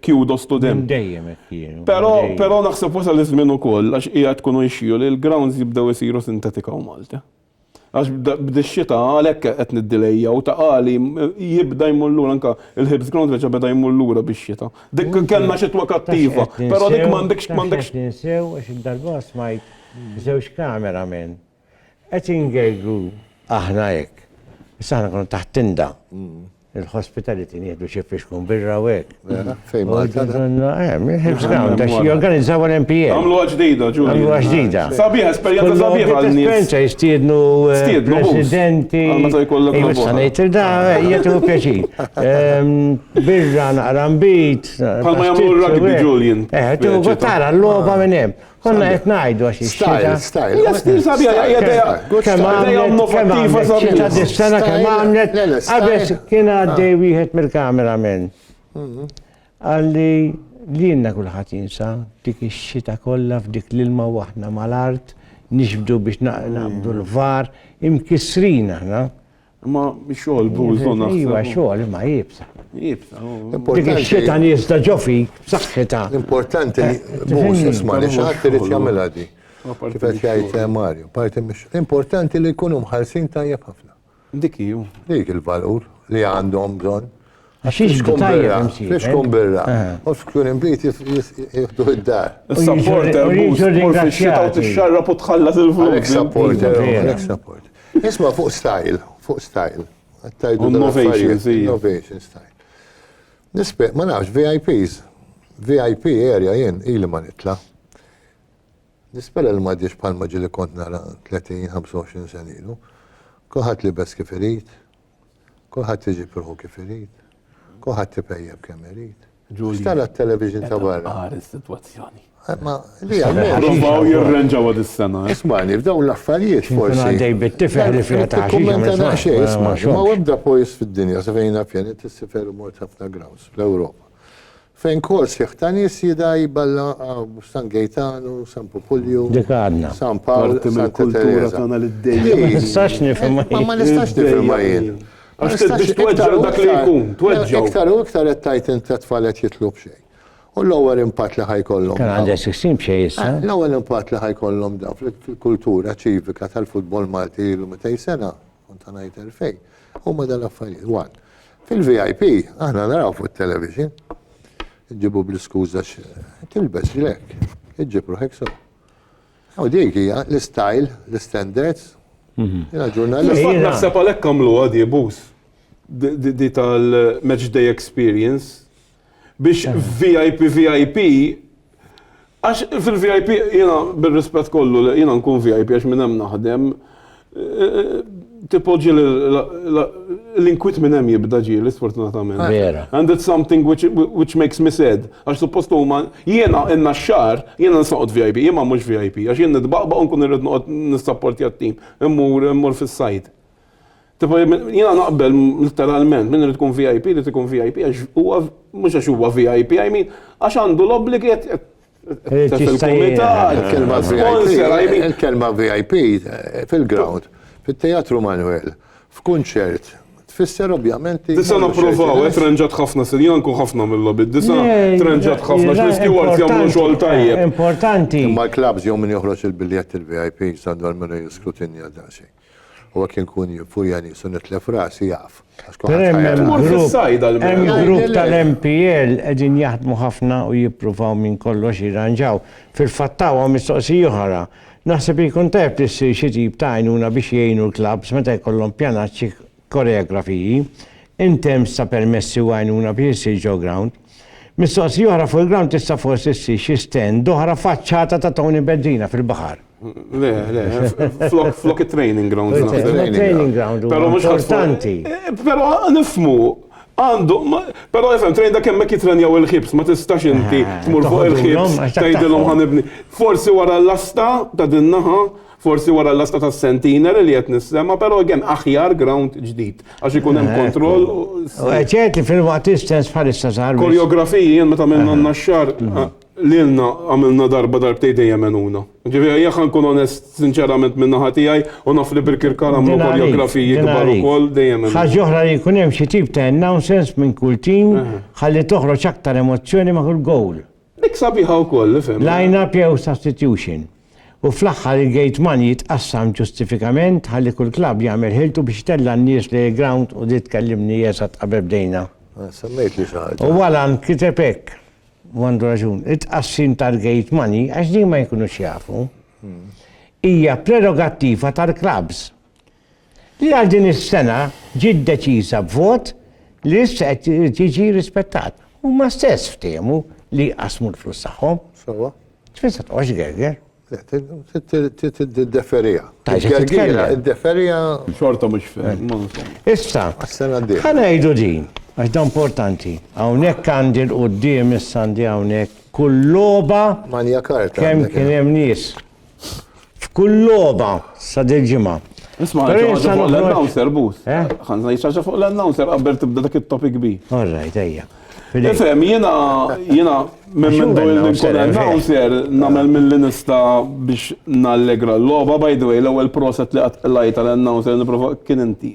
Kjudo Studem. Minn dejjem hekk kienu. Però, però naħseb wasal iż-żmien ukoll għax qiegħed tkun jxiju li l-grounds jibdew isiru sintetika u Malti. Għax b'dix-xita għalhekk qed niddilejjaw ta' qali jibda jmur lura anke il-Hibs Ground reġa' beda jmur lura bix-xita. Dik kellna xitwa kattiva, però dik m'għandekx m'għandekx. Taf x'qed ninsew, taf x'qed ninsew għax id-darba smajt żewġ camera men. Qed ingergru aħna hekk. Issa aħna konna taħt tinda. Il-hospitality nieħdu xi fixkun birra u hekk. Fejn Malta? Hemm, il-Hills Ground, għax jorganizzaw l-MPA. Għamlu ġdida, ġuri. Għamlu ġdida. Sabiħa, esperjenza sabiħa għal-nies. Esperjenza jistiednu presidenti. Għamlu jkollok l-għamlu. Sanajt il-da, jgħetu pjaċir. Birra naqra mbit. Palma jgħamlu l-rugby, Julian. Eħtu, għattara, l-loba minnem. Konna qed ngħidu għax ix-xita. Style, Hija stil sabiħa, hija dejja. Kemm għamlet, kemm għamlet xita dis-sena kemm għamlet. Qabes kien għaddej ah. wieħed mill-kamera minn. Mhm. Għalli li jenna kullħat jinsa dik ix-xita kollha f'dik l-ilma waħna mal-art nixbdu biex naqbdu l-var imkissrin aħna Imma xogħol bużu naħseb. Iva xogħol imma jibsa. Jibsa. Dik ix-xita nista ġo fik b'saħħitha. L-importanti li mhux isma' li xatt irid jagħmilha di. Kif qed jgħid eh, Mario, parti mhix. L-importanti li jkunu mħallsin tajjeb ħafna. Dik hiju. Dik il-valur li għandhom bżonn. Għaxiex btajja imsi. Fiex kun birra. U xkun imbit jihdu id-dar. Supporter, mux ringrazzjata. Tixxarra u tħallas il-flus. Supporter, supporter. Isma fuq style, fuq style. Innovation, innovation style. Nispe, ma nafx, VIPs, VIP area jen, ili ma nitla. Nispera li ma diex palma ġili kont nara 30-25 senilu. Kuħat li bes kif irid, Kulħadd iġib ruħu kif irid. Kulħadd ipejjeb kemm irid. Xtala t-television ta' barra. Għar is-sitwazzjoni. Eh, ma li għal. jirranġawa dis-sena. Eh? Ismani, f'dawn l-affarijiet forsi. Għaddej bit-tifel li fija ta' xi. Ma webda pojs fid-dinja, sa fejna pjani t-sifer mort ħafna grounds fl-Ewropa. Fejn kol sħiħ ta' nies jidha jballa hawn San Gejtanu, San Pupulju, Dik għadna. San Pawl, Parti Santa mill-kultura Tereża. tagħna li dejjem Dik. Ma nistax nifhimha Ma jien. ma nistax nifhimha Dejjem jien. jien. Ma Għax nistax- biex tweġġa' iktar u dak li iktar- jkun, le, tweġġgħu. Iktar u iktar qed tgħid int t-tfal qed jitlu b'xejn. U l-ewwel impatt li ħa jkollhom Kien dawn- għandha 16 b'xejn issa. L-ewwel impatt li ħa jkollhom dawn fil-kultura ċivika tal-futbol Malti ilu 200 sena Kont ta' ngħid elfejn. Huma dal-affarijiet. One. Fil-VIP, aħna naraw fuq television, ġibu bl-iskuża tilbes lek, iġġib ruħek so. U dik hija l-istyle, l-standards. Mhm. Jena ġurnalist. Naħseb għalhekk għamlu għadi bus. Di tal-match day experience. biex VIP VIP għax fil-VIP jiena bir-rispett kollu li jiena nkun VIP għax minn hemm naħdem tipoġġi l-inkwit minn hemm jibda ġieli sfortunatament. Vera. And it's something which, which makes me sad. Għax suppost huma jiena inna xar jiena nisaqgħod VIP, imma mhux VIP għax jien nitbaqbaq u nkun irrid noqgħod nissapportja t-tim. Immur immur fis-sajd. Tipo jiena naqbel literalment min irid ikun VIP irid ikun VIP għax huwa mhux għax huwa VIP I mean għax għandu l-obbligi qed qed qed fil-kumitat. Il-kelma VIP, il-kelma VIP fil-ground, fit-Teatru Manuel, f'kunċert, tfisser ovvjament. Disa napprovaw, qed renġat ħafna sinjan kun ħafna mill-lobby. Disa renġat ħafna x'riski ward jagħmlu xogħol tajjeb. Importanti. Imma l-klabs jew min joħroġ il-biljett il-VIP sandwar minn jiskrutinja daqsxejn. U hekk inkun jien fuq Janis u nitlef rasi jaf. Per hemm grupp tal-MPL qegħdin jaħdmu ħafna u jippruvaw minn kollox jirranġaw. Fil-fatt hawn mistoqsija oħra. Naħseb li jkun tajjeb li ssir xi tip ta' għajnuna biex jgħinu l-klabbs meta jkollhom pjanaċċi koreografiji, intempz ta' permessi u għajnuna biex issir ġo ground. Mistoqsija oħra fuq il-ground tista' forsi ssir xi stand oħra faċċata ta' Tony Bendina fil-baħar. Le, le, flok, flok it-training ground. Training ground, pero mux importanti. Eh, pero nifmu, għandu, pero jifem, trejn da kemmek jitrenjaw il-ħibs, ma tistax inti eh, tmur fuq il-ħibs, tajdilom ħanibni. Forsi wara l-lasta ta' dinnaħa, Forsi wara l-lasta tas-centenary li qed nissema, però again aħjar ground ġdid għax ikun hemm kontroll. Ċerti fil-waqt istess bħalissa sar. Koreografiji jien meta minna n-naxxar lilna għamilna darba darbtej dejjem enuna. Ġifieri jekk nkun onest sinċerament minn naħa tiegħi u naf li Birkirkara għamlu koreografiji kbar ukoll dejjem enuna. Ħaġa oħra li jkun hemm xi tip ta' announcements minn kull tim ħalli toħroġ aktar emozzjoni ma' kull gowl. Dik sabiħa wkoll, ifhem. Line-up jew substitution. U fl-aħħar il-gate money jitqassam ġustifikament ħalli kull klabb jagħmel ħiltu biex itella' n-nies lejn il-grawnd u di tkellimni eżatt qabel bdejna. Semmejtli xi ħaġa. U Allan kiteb hekk, u għandu raġun, it-tqassim tal-gate money, għax din ma jkunux jafu, hija prerogattiva tal-klabbs. Li għal din is-sena ġiet deċiża b'vot li issa qed irid jiġi rispettat. Huma stess ftehmu li jqassmu l-flus tagħhom. Sewwa. Tfin se toqgħodx gerger. Tiddeferiha. Gergira, iddeferiha. Xorta mhux fehim. Issa, ħa ngħidu din, għax da importanti. Hawnhekk għandi l-quddiem issa għandi hawnhekk kull logħba. Manja karta. Kemm kien hemm nies. F'kull logħba sa dil-ġimgħa. Nisma' ħaġa fuq l-announcer bus. Eh? Ħanżna jiċċaġġa fuq l-announcer qabel tibda dak it-topic bi. All right, ejja. Ifem, jena, jena, minn minn dojn li nkun announcer, namel minn li nista biex nallegra l-loba, by the way, l-ewel proset li għat lajta l-announcer, niprofa kien inti.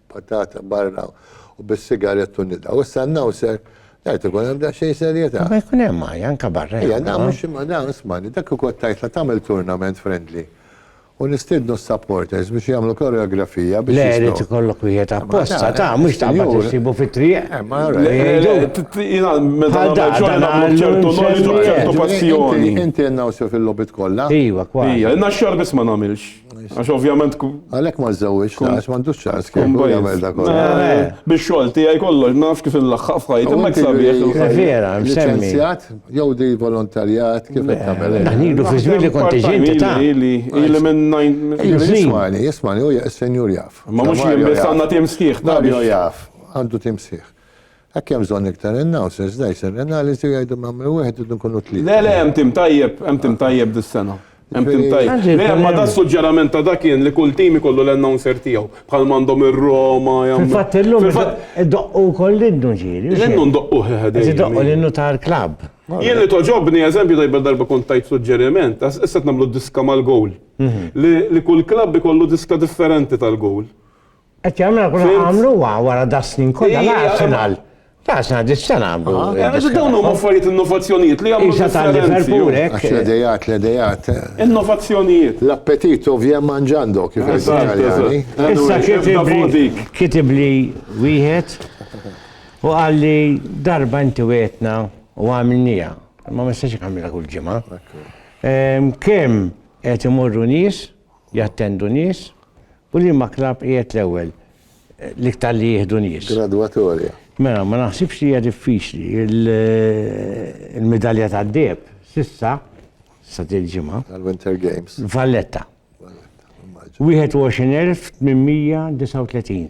patata barra u bis-sigarett u nidgħu. Issa n-nawser Għajt ikun hemm daqsxejn serjetà. Ma jkun hemm għaj, anka barra. Ejja, da mhux imma da ismani, dak ukoll tajt la tagħmel tournament friendly. U nistidnu s-supporters biex jagħmlu koreografija biex. Le, irid ikollok wieħed apposta, ta' mhux ta' ma tissibu fit-triq. Inti nagħmlu fil-lobit kollha. Iva, kwa. Ija, naxxar biss ma nagħmilx. Għax ovvjament. Għalek ma żewġ, għax ma ndux ċans kien jagħmel dak eh, eh. Biex xogħol tiegħi kollox ma nafx kif il-laħħaq f'ħajt, imma ksabiex. Vera, msemmi. Jew di volontarjat kif qed tagħmel. Naħnilu fi żmien li kont ġinti ta' li li minn najn. Jismani, jismani, u senjur jaf. Ma mhux jien biss għandna tim sħiħ. Mario jaf, għandu tim sħiħ. Hekk hemm bżonn iktar announcers, da jsir analiżi u jgħidu m'għamel wieħed idu nkunu tlieta. Le, le, hemm tim tajjeb, hemm tim tajjeb dis-sena. Hemm tim tajjeb. Le, imma da s-suġġerament ta' da kien li kull tim ikollu l-announcer tiegħu. Bħal m'għandhom ir-Roma jagħmlu. Fil-fatt illum idoqqu wkoll l-innu ġieli. L-innu ndoqquh eħe dejjem. Qed idoqqu l-innu tal-klabb. Jien li togħġobni, eżempju tajba darba kont tajt suġġeriment, issa qed nagħmlu diska mal-gowl. Li kull klabb ikollu diska differenti tal-gowl. Qed jagħmel kuna għamlu wara da snin kollha la Arsenal. Ta' Arsenal dis-sena. Dawn huma affarijiet innovazzjonijiet li jagħmlu differenzi. L-idejat, l-idejat. Innovazzjonijiet. L-appetit ovvja manġando kif Italjani. Issa kitib li wieħed u għalli darba inti wetna u għamilnija. Ma ma jistax għamilha kull ġimgħa. Kemm qed imorru nies, jattendu nies, U liema klabb qiegħed l-ewwel l-iktar li jieħdu nies? Gradwatorja. Mela, ma naħsibx li hija diffiċli. Il-midalja tad-deheb s'issa sa dil-ġimgħa. Għal-Winter Games. Valletta. Valletta, immaġin. 21,839.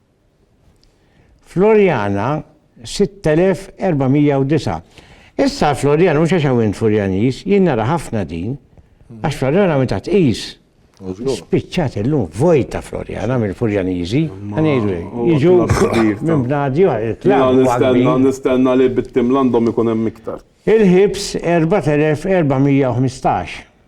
Floriana 6409. Issa Floriana mhux għax hawn Furjanis, jien nara ħafna din, għax Floriana meta tqis spiċċat illum vojta Floriana mill-Furjaniżi, ngħidu jiġu minn bnadi Nistenna nistenna li bit-tim l-għandhom ikun hemm iktar. Il-ħibs 4415.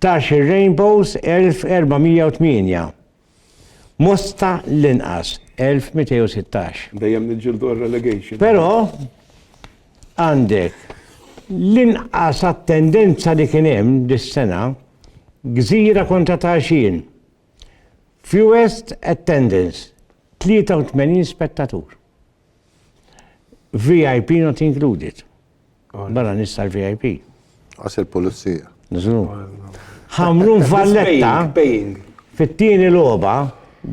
Tax ir-Rainbows 1408. Mosta l-inqas 1216. Dejjem niġġieldu għar-relegation. Però għandek l-inqas attendenza li kien hemm dis-sena Gżira kontra Taxin. Fewest attendance 83 spettatur. VIP not included. Barra nies tal-VIP. Għas il-pulizija. Nizlu. Ħamrun Valletta. Fit-tieni logħba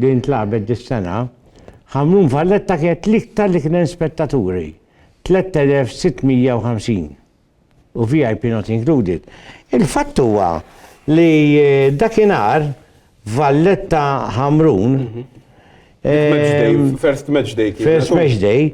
din tlabet dis-sena, Ħamrun Valletta kienet l-iktar li kien spettaturi. 3650 u VIP not included. Il-fatt huwa li eh, dakinhar Valletta Ħamrun mhm. eh, First match day. First match day.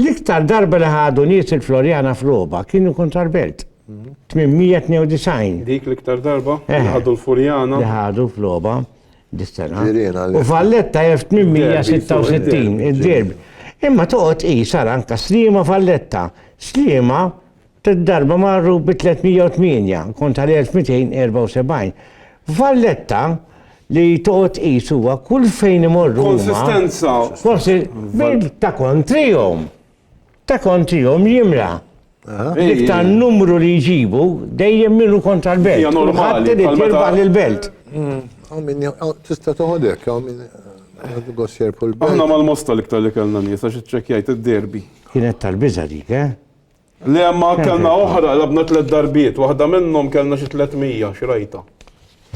L-iktar darba li ħadu nies il-Floriana f'logħba kienu kontra l-Belt. 892. Dik l-iktar darba li eh. ħadu l-Furjana. Li ħadu f'logħba dis-sena. U Valletta 1866 id-derbi. Imma toqgħod qisar anka Slima Valletta. Slima Tliet darba marru bi 308 kontra l-1274. Valletta li toqgħod tqis huwa kull fejn imorru huma. Konsistenza. Konsi bil ta' kontrihom. Ta' kontrihom jimla. Dik ta' numru li jġibu dejjem minu kontra l-belt. Hija normali. Ħadd irid jirbaħ lill-belt. Hawn min tista' toħod hekk, hawn min Aħna mal-Mosta l-iktar li kellna nies għax iċċekkjajt id-derby. Kienet tal-biża' dik, eh? Le imma kellna oħra, labna tliet darbiet, waħda minnhom kellna xi 300 xrajta.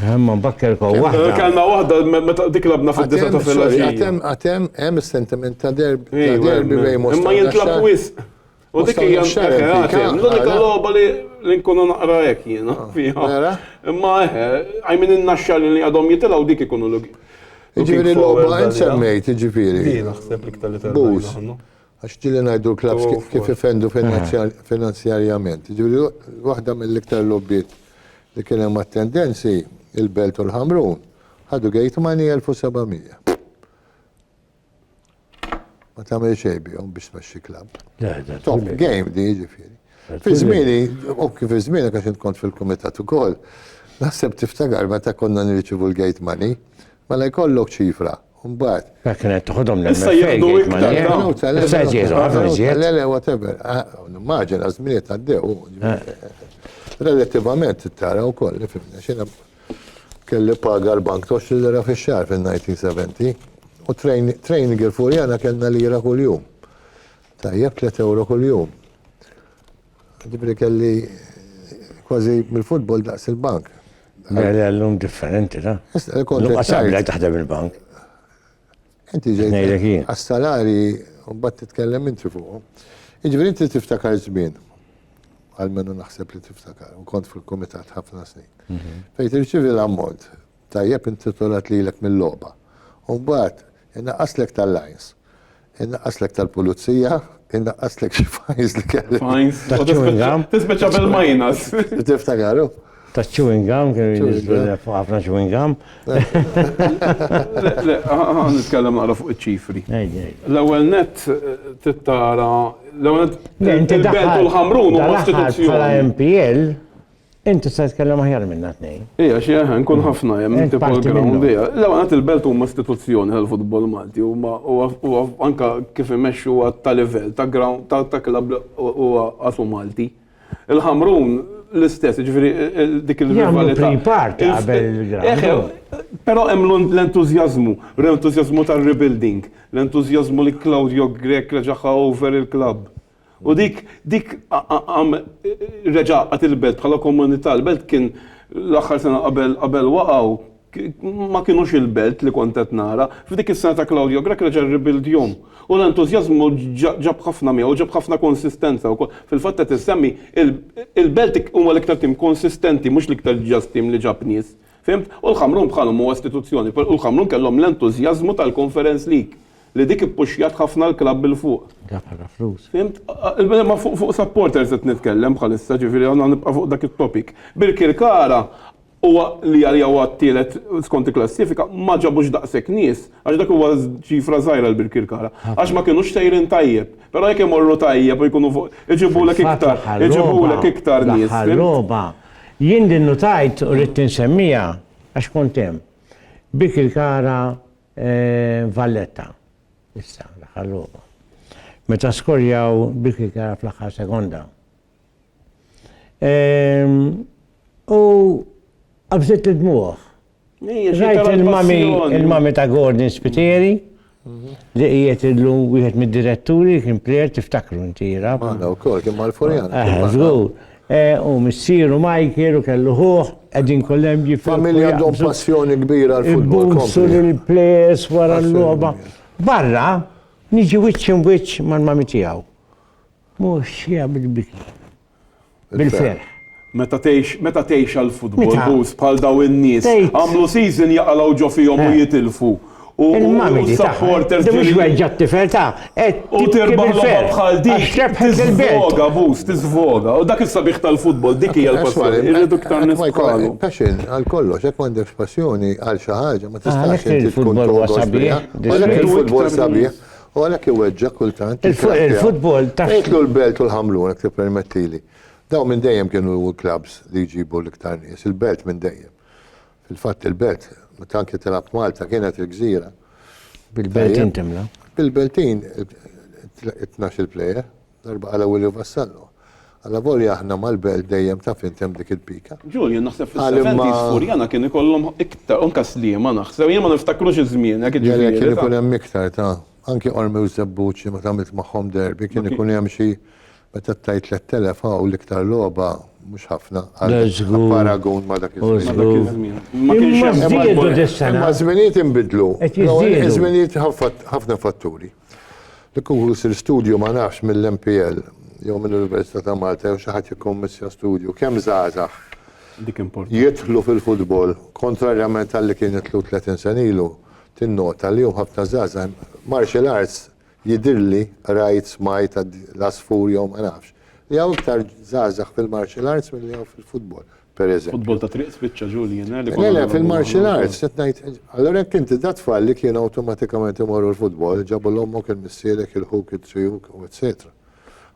Imma mbakker ko waħda. Kellna waħda meta dik labna fid-disa ta' filgħaxija. Għatem għatem hemm is-sentiment ta' derb ta' derbi bejn Mosta. Imma jintlab wisq. U dik hija għatem. L-unika logħba li li nkunu naqra hekk jiena fiha. Imma eħe, I mean in-naxxar li għadhom jitilgħu dik ikunu l-. Jiġifieri l-logħba insemmejt jiġifieri. Din naħseb l-iktar li tgħidilna. Għax ġieli ngħidu l-klabbs kif ifendu finanzjarjament. Jiġifieri waħda mill-iktar logħbiet li kien hemm attendenzi, il-Belt u l-Ħamrun, ħadu gate money 1,700. Ma tagħmel xejn bihom biex tmexxi klabb. Top game di jiġifieri. Fi żmieni, u kif iż-żmien għax int kont fil-kumitat ukoll, naħseb tiftakar meta konna nirċivu l-gate money, Mela jkollok ċifra, u mbagħad. Mela kien qed toħodhom l-MFA. Issa jieħdu iktar. Issa qed jieħdu ħafna iżjed. Le, le, whatever. Nimmaġina ah, żminiet għaddew. Relattivament tara wkoll li fimna xina kelli paga l-bank tox li lira fix-xahar fin-1970 u training il-furjana kellna lira kuljum. Tajjeb 3 euro kuljum. Ġifieri kelli kważi mill-futbol daqs il-bank. Mela llum differenti, la? Llum qasabi lajk taħdem il-bank. Inti ġejt għas-salari u mbagħad titkellem inti fuqhom. Jiġifieri inti tiftakar żmien għal minnu naħseb li tiftakar u kont fil-kumitat ħafna snin. Mhm. Fejn tirċievi l-ammont Tajjeb intitolat lilek mil-logħba. U mbagħad inaqqaslek tal-lines. Inaqqaslek tal-pulizija, inaqqaslek xi fines li kellek. Fines? Ta' chewing gum? Tispiċċa bil-minus. Tiftakar hu? Ta' chewing gum, kienu jinżlu fuq ħafna chewing gum. Le, ħa nitkellem naqra fuq iċ-ċifri. L-ewwel nett trid tara, l-ewwel nett il-belt u l-ħamrun huma istituzzjoni. Bħala MPL, Int tista' titkellem aħjar minna tnejn. Ija, xi aħna nkun ħafna hemm inti program bija. L-ewwel qed il-Belt huma istituzzjoni tal-futbol Malti huma huwa anke kif imexxu huwa ta' livell ta' ground ta' klabb huwa qasu Malti. Il-Ħamrun l-istess, jiġifieri dik il-rivalità. Però hemm l-entużjażmu, l-entużjażmu tar-rebuilding, l-entużjażmu li Claudio Grech reġaħħa over il-klabb. U dik, dik għam reġa għat il-belt bħala komunità, l-belt kien l-axar sena qabel qabel waqaw, ma kienux il-belt li kontet nara, f'dik is-sena ta' Claudio Grech reġa ribildjom. U l-entużjażmu ġab ħafna miegħu, ġab ħafna konsistenza wkoll. Fil-fatt qed issemmi, il-belt huwa l-iktar tim konsistenti mhux l-iktar ġast tim li ġab nies. Fhimt? U l-Ħamrun bħalhom huwa istituzzjoni, u l-Ħamrun kellhom l-entużjażmu tal-Conference League li dik ippuxxjat ħafna l-klabb 'il fuq. Għad ħafna flus. Fhimt? Imma fuq supporters qed nitkellem bħalissa, ġifieri hawn nibqa' fuq dak it-topic. Birkirkara huwa li għalija huwa t-tielet skont il-klassifika, ma ġabux daqshekk nies, għax dak huwa ċifra żgħira għal Birkirkara. Għax ma kinux sejrin tajjeb. Però jekk imorru tajjeb u jkunu fuq, iġibulek iktar, iġibulek iktar nies. Fil-fatt fl-aħħar logħba, fl-aħħar logħba. Jien din nutajt u ridt insemmiha għax kont hemm. Bik il-kara Valletta issa l-aħħar logħba. Meta skorjaw bik il-kara fl-aħħar sekonda. U qabżitli d-dmugħ Rajt il-mami, il-mami ta' Gordon Spiteri, li qiegħed illum wieħed mid-diretturi kien plejer tiftakru inti jira. Għana wkoll kien mal-Furjan. Eh, żgur. Eh, u missieru Michael u kellu ħuħ, qegħdin kollem ġi Familja għandhom passjoni kbira għal-futbol. Ibbunsu l-plejers wara l-logħba. Barra, niġi wiċċ imwiċċ mal-mami tiegħu. Mhux jagħmel biki. Bil-ferħ. Meta tgħix, meta tgħix għall-futbol, Bruce, bħal dawn in-nies, għamlu season jaqalgħu ġo fihom u jitilfu, u s-supporters ġieli. Mhux weġġa' t-tifel tagħha, qed tibki bil-ferħ. U tirbaħ logħba bħal din, tiżvoga, Bruce, tiżvoga. U dak is-sabiħ tal-futbol, dik hija l-passjoni, irridu iktar nies bħalu. Passion għal kollox, jekk m'għandekx passjoni għal xi ħaġa, ma tistax inti tkun. Għalhekk il-futbol huwa sabiħ. Għalhekk il-futbol sabiħ. U għalhekk iweġġa' kultant. Il-futbol ta'. Ngħidlu l-Belt u l-Ħamrun jekk tippermettili. Dawn minn dejjem kienu l-klabbs li jġibu l-iktar nies, il-Belt minn dejjem. Fil-fatt il-Belt, meta anke tilgħab Malta kienet il-gżira. Bil-Beltin timla. Bil-Beltin, it-tnax-il plejer. Darba qala Williu Vassallo, Allavolja aħna mal-belt dejjem taf int hemm dik il-pika. Julian naħseb fis-seventies Furjana kien ikollhom iktar, u anke Sliema naħseb, jien ma niftakrux iż-żmien hekk jiġifieri. Le le kien ikun hemm iktar ta', anke Qormi u Żebbuġ meta għamilt magħhom derby kien ikun hemm xi, meta ttajt 3,000 hawn l-iktar logħba mhux ħafna għal paragun ma' dak iż-żmien. Ma kienx hemm. Imma ż-żminijiet inbidlu. Qed jiżdiedu. Iż-żminijiet ħafna fatturi. Li kieku jsir studju ma nafx mill-MPL jew mill-Università ta' Malta jew xi ħadd jikkommissja studju kemm żgħażagħ jidħlu fil-futbol kontrarjament għal li kien jidħlu 30 sena ilu, tinnota li hemm ħafna żgħażagħ martial arts jidhirli rajt smajt l-għasfur jew ma nafx li hawn iktar żgħażagħ fil-martial arts milli hawn fil-futbol. pereżempju. Futbol ta' triq spiċċa ġu li jingħel ikun. Le le fil-martial arts qed ngħid. Allura jekk inti da tfal li kienu awtomatikament imorru l-futbol, ġabu l ommok il-missierek, il-ħuk, it-triuk u etc.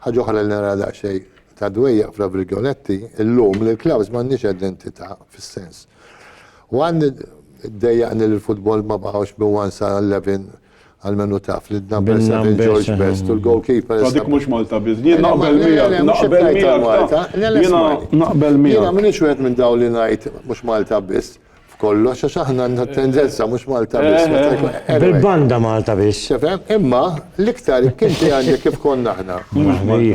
Ħaġa oħra li nara daqsxejn ta' dwejjaq fra virgoletti, illum li l-klabbs m'għandniex identità fis-sens. One dejjaqni li l-futbol ma baqgħux bi one sa 11 Għalmenu taf li d-number 7 George Best u l-goalkeeper. Għadik mux Malta biz. Jien naqbel miegħek, naqbel miegħek Malta. Jien naqbel miegħek. Jien minix wieħed minn daw li ngħid mhux Malta biss. F'kollox għax aħna għandna tendenza mhux Malta biss. Eh, eh, eh. Bil-banda Malta biss. Imma l-iktar kien għandi kif konna aħna.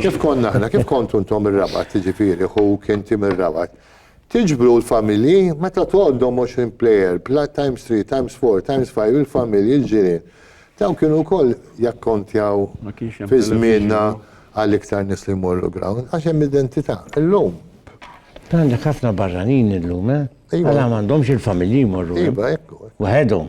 Kif konna aħna, kif kontu ntom ir-rabat, ġifieri, hu kien tim ir-rabat. Tiġbru l-familji, meta tgħoddhom għoxrin plejer, bla times three, times four, times five, il-familji, l-ġirien. Dawn kienu wkoll jakkontjaw fi żmienna għal iktar nies li jmorru ground, għax hemm identità. Illum. Għandek ħafna barranin illum, eh? Għala m'għandhomx il-familji jmorru hemm? Iva, hekk hu. Waħedhom.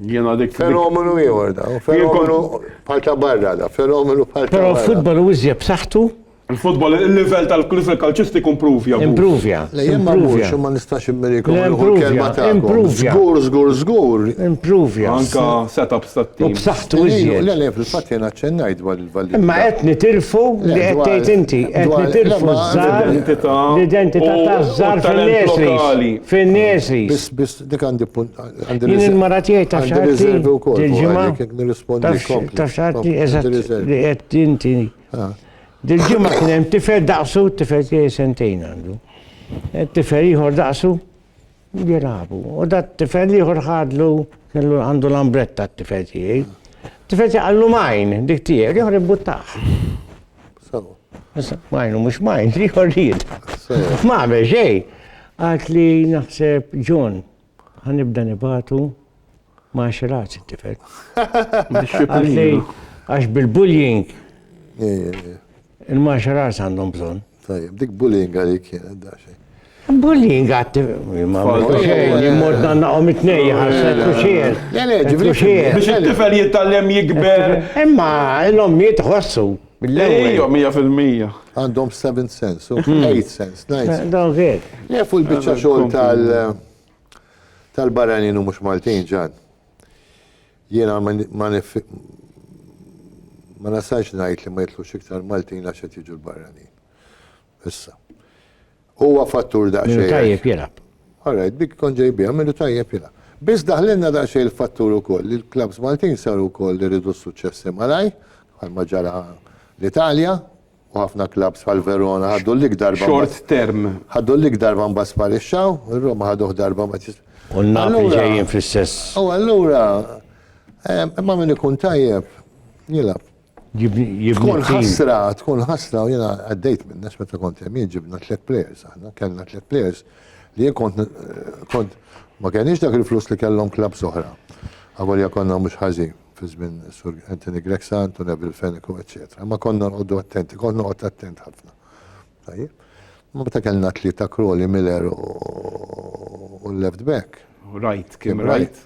Jiena dik. Fenomenu ieħor dan. Fenomenu bħal ta' barra dan. Fenomenu bħal ta' barra. Però l-futbol hu iżjed b'saħħtu Il-futbol, il-livell tal-livell kalċistiku impruvja. Impruvja. Lejjem ma morx u ma nistax immiriekom l-ewwel kelma ta' impruvja. Żgur, żgur, żgur. Impruvja. Anka setups tat-tim. U b'saħħtu iżjed. Le, le, fil-fatt jien aċċennajt dwar il-validità. Imma qed nitilfu li qed tgħid inti, qed nitilfu żgħar l-identità taż-żgħar fin-nesri. Fin-nesri. Biss, biss, dik għandi punt. Jien il-mara tiegħi ta' xahar. Għandi riservi wkoll. Il-ġimgħa. Taf xahar eżatt li qed inti. Dil-ġimgħa kien hemm tifel daqsu, tifel tiegħi sentejn għandu. E, tifel ieħor daqsu jilagħbu. U dat tifel ieħor ħadlu kellu għandu l-ambretta t-tifel tiegħi. Tifel tiegħi għallu majn dik tiegħi, ieħor ibbuttaħ. Majnu mhux majn, ieħor ried. Ma xejn. Għalt li naħseb John, ħanibda nibatu Ma nxilaqx it-tifel. Għax bil-bullying. Il-martial arts għandhom bżon. Tajjeb, dik bullying għalik kienet da xejn. Bullying għat, ma jimmod nannaqom it-nej, ħasset u xiel. Biex it-tifel jittallem jikber. Imma l-om jitħossu. Ejjo, mija fil-mija. Għandhom 7 cents, 8 cents, 9 cents. Dawn għed. Lefu l-bicċa xol tal- Tal-barranin u mhux Maltin, Ġann. Jiena ma ma nasalx ngħid li ma jitlux iktar Maltin għax qed jiġu l-barranin. Issa. Huwa fattur daqsxejn. Minu tajjeb jilgħab. All right, dik kont ġej biha, minu tajjeb jilgħab. Biss daħlilna daqsxejn il-fattur ukoll li l-klabbs Maltin saru wkoll iridu s-suċċessi malajr, bħalma ġara l-Italja, u ħafna klabbs bħal Verona ħaddu l-lig darba. Short term. Ħaddu l-lig darba mbagħad sparixxaw, ir-Roma ħaduh darba ma tis. U n-Napli ġejjin fl-istess. U allura imma min ikun tajjeb jilgħab. Tkun ħasra, tkun ħasra u jiena għaddejt minn nax meta kont hemm ġibna tliet players aħna, kellna tliet players li jien kont kont ma kenniex dak il-flus li kellhom klabbs oħra. Għavolja konna mhux ħażin. fi żmien Sur Anthony Grexa, Anto Neville Fenneco, eċċetera. Imma konna nqogħdu attenti, kont noqgħod attent ħafna. Tajjeb. Ma meta kellna tlieta Crowley, Miller u l-left back. Right, Kim Wright.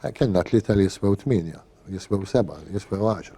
Eh, kellna tlieta li jiswew tminja, jiswew seba, jiswew għaxra.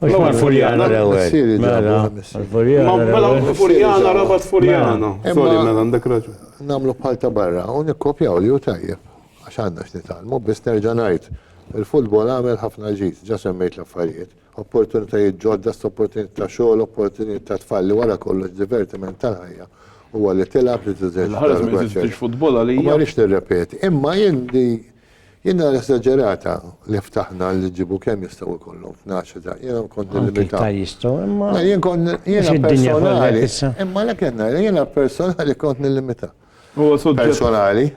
Mela Furjana l-ewwel. Mela Furjana rabat Furjana. Sorry mela għandek raġun. Nagħmlu bħal ta' barra u nikkopjaw li hu tajjeb għax għandna x'nitgħallmu biss nerġa' ngħid il-futbol għamel ħafna ġid, ġa semmejt l-affarijiet. Opportunitajiet ġodda, opportunitajiet ta' xogħol, opportunitajiet ta' tfal li wara kollox divertiment tal-ħajja huwa li tilgħab li teżerċita l-gwaċċ. U ma rridx nirrepeti. Imma jien Jien nara esaġerata li ftaħna li jġibu kemm jistgħu jkollhom f'nax ta' jiena kont nillimita. Anki jistgħu imma. Jien kont jiena personali. Imma lek qed ngħid jiena personali kont nillimita. Huwa suġġett. Personali.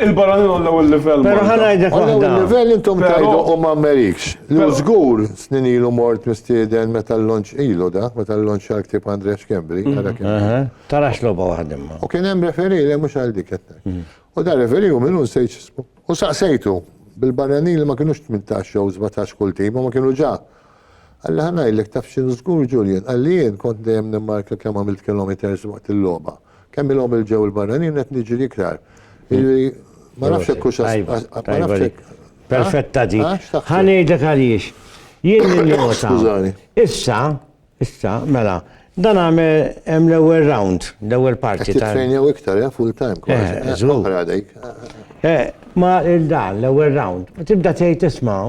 Il-barranin għollaw il-livell. Pero ħanajdek għollaw il-livell intom tajdu u ma merikx. Lu zgur snin ilu mort mistieden meta l-lonċ ilu da, meta l-lonċ għal-ktib Andrea Xkembri. Mhm. Tarax loba waħdimma. U kien hemm referi li mhux għal dik mhm. U dan referi hu minnu nsejt x'ismu. U saqsejtu, bil-barranin li ma kinux tmintax jew sbatax kull tim, huma kienu ġa. Qalli ħa ngħidlek taf x'inhu żgur Julian, qalli jien kont dejjem nimmarka kemm għamilt kilometres waqt il-logħba. Kemm ilhom il ġew il-barranin u qed niġri iktar. Jiġifieri ma nafx hekk hux Tajba, tajba dik. Perfetta dik. Ħa ngħidlek għaliex. Jien ninnota. Skużani. Issa, Issa, mela, dan għamel hemm l-ewwel round, l-ewwel parti. Qed titrejnew iktar, eh, full time kważi. Oħra dik. Eh, ma il-dan, l-ewwel round. Tibda tgħid isma'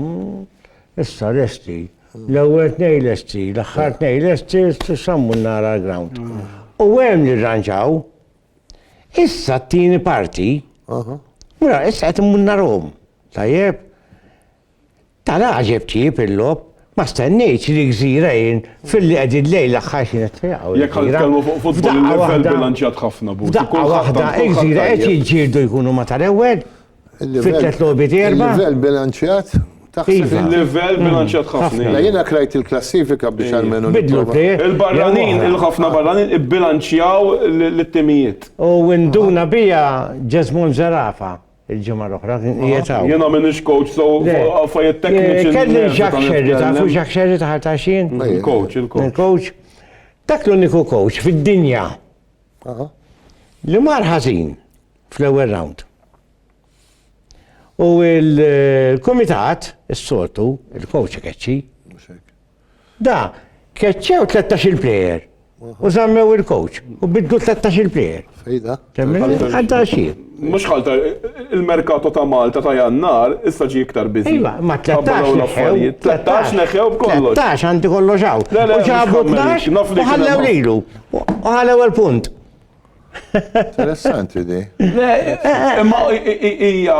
issa lesti. L-ewwel tnej lesti, l-aħħar tnej lesti, sammu nara l-ground. U hemm li rranġaw. Issa t-tieni parti. Mura, issa qed immunna rom. Tajjeb. Ta' l-għaġeb tjieb il-logħob, ma stennejtx li Gżira jien filli qegħdin lejn l-aħħar xieħ tiegħu. Jekk ħa nitkellmu fuq futbol il-livell bilanċjat ħafna Buti. F'daqqa waħda Gżira qed jiġġieldu jkunu ma tal-ewwel fit-tliet logħbiet erba'. Il-livell bilanċjat Taħseb il-livell hmm. bilanċjat ħafna. La jiena krajt il-klassifika biex għalmenu. Bidlu Il-barranin, il-ħafna barranin ibbilanċjaw l-timijiet. U induna bija Ġesmon Zarafa. Il-ġimgħa l-oħra kien qiegħed hawn. Jiena m'iniex coach, so affarijiet tekniċi. Kelli Jacques Scerri, tafu Jacques Scerri ta' Ħartaxin? Il-coach, il-coach. Il-coach. Dak l-uniku coach fid-dinja li mar ħażin fl-ewwel round. U il-komitat, s-sortu, il-coach keċċi, Da, keċċew 13-il plejer. U zammew il-coach. U biddu 13-il plejer. Fejda. Għadda xie. Mux ħalta, il-merkato ta' Malta ta' jannar, issa ġi iktar bizi. Iva, ma 13 neħew. 13 neħew b'kollox. 13 għandi kollox għaw. U ġabu 12 u ħallew lilu. U ħallew il-punt. Interessanti di. Imma hija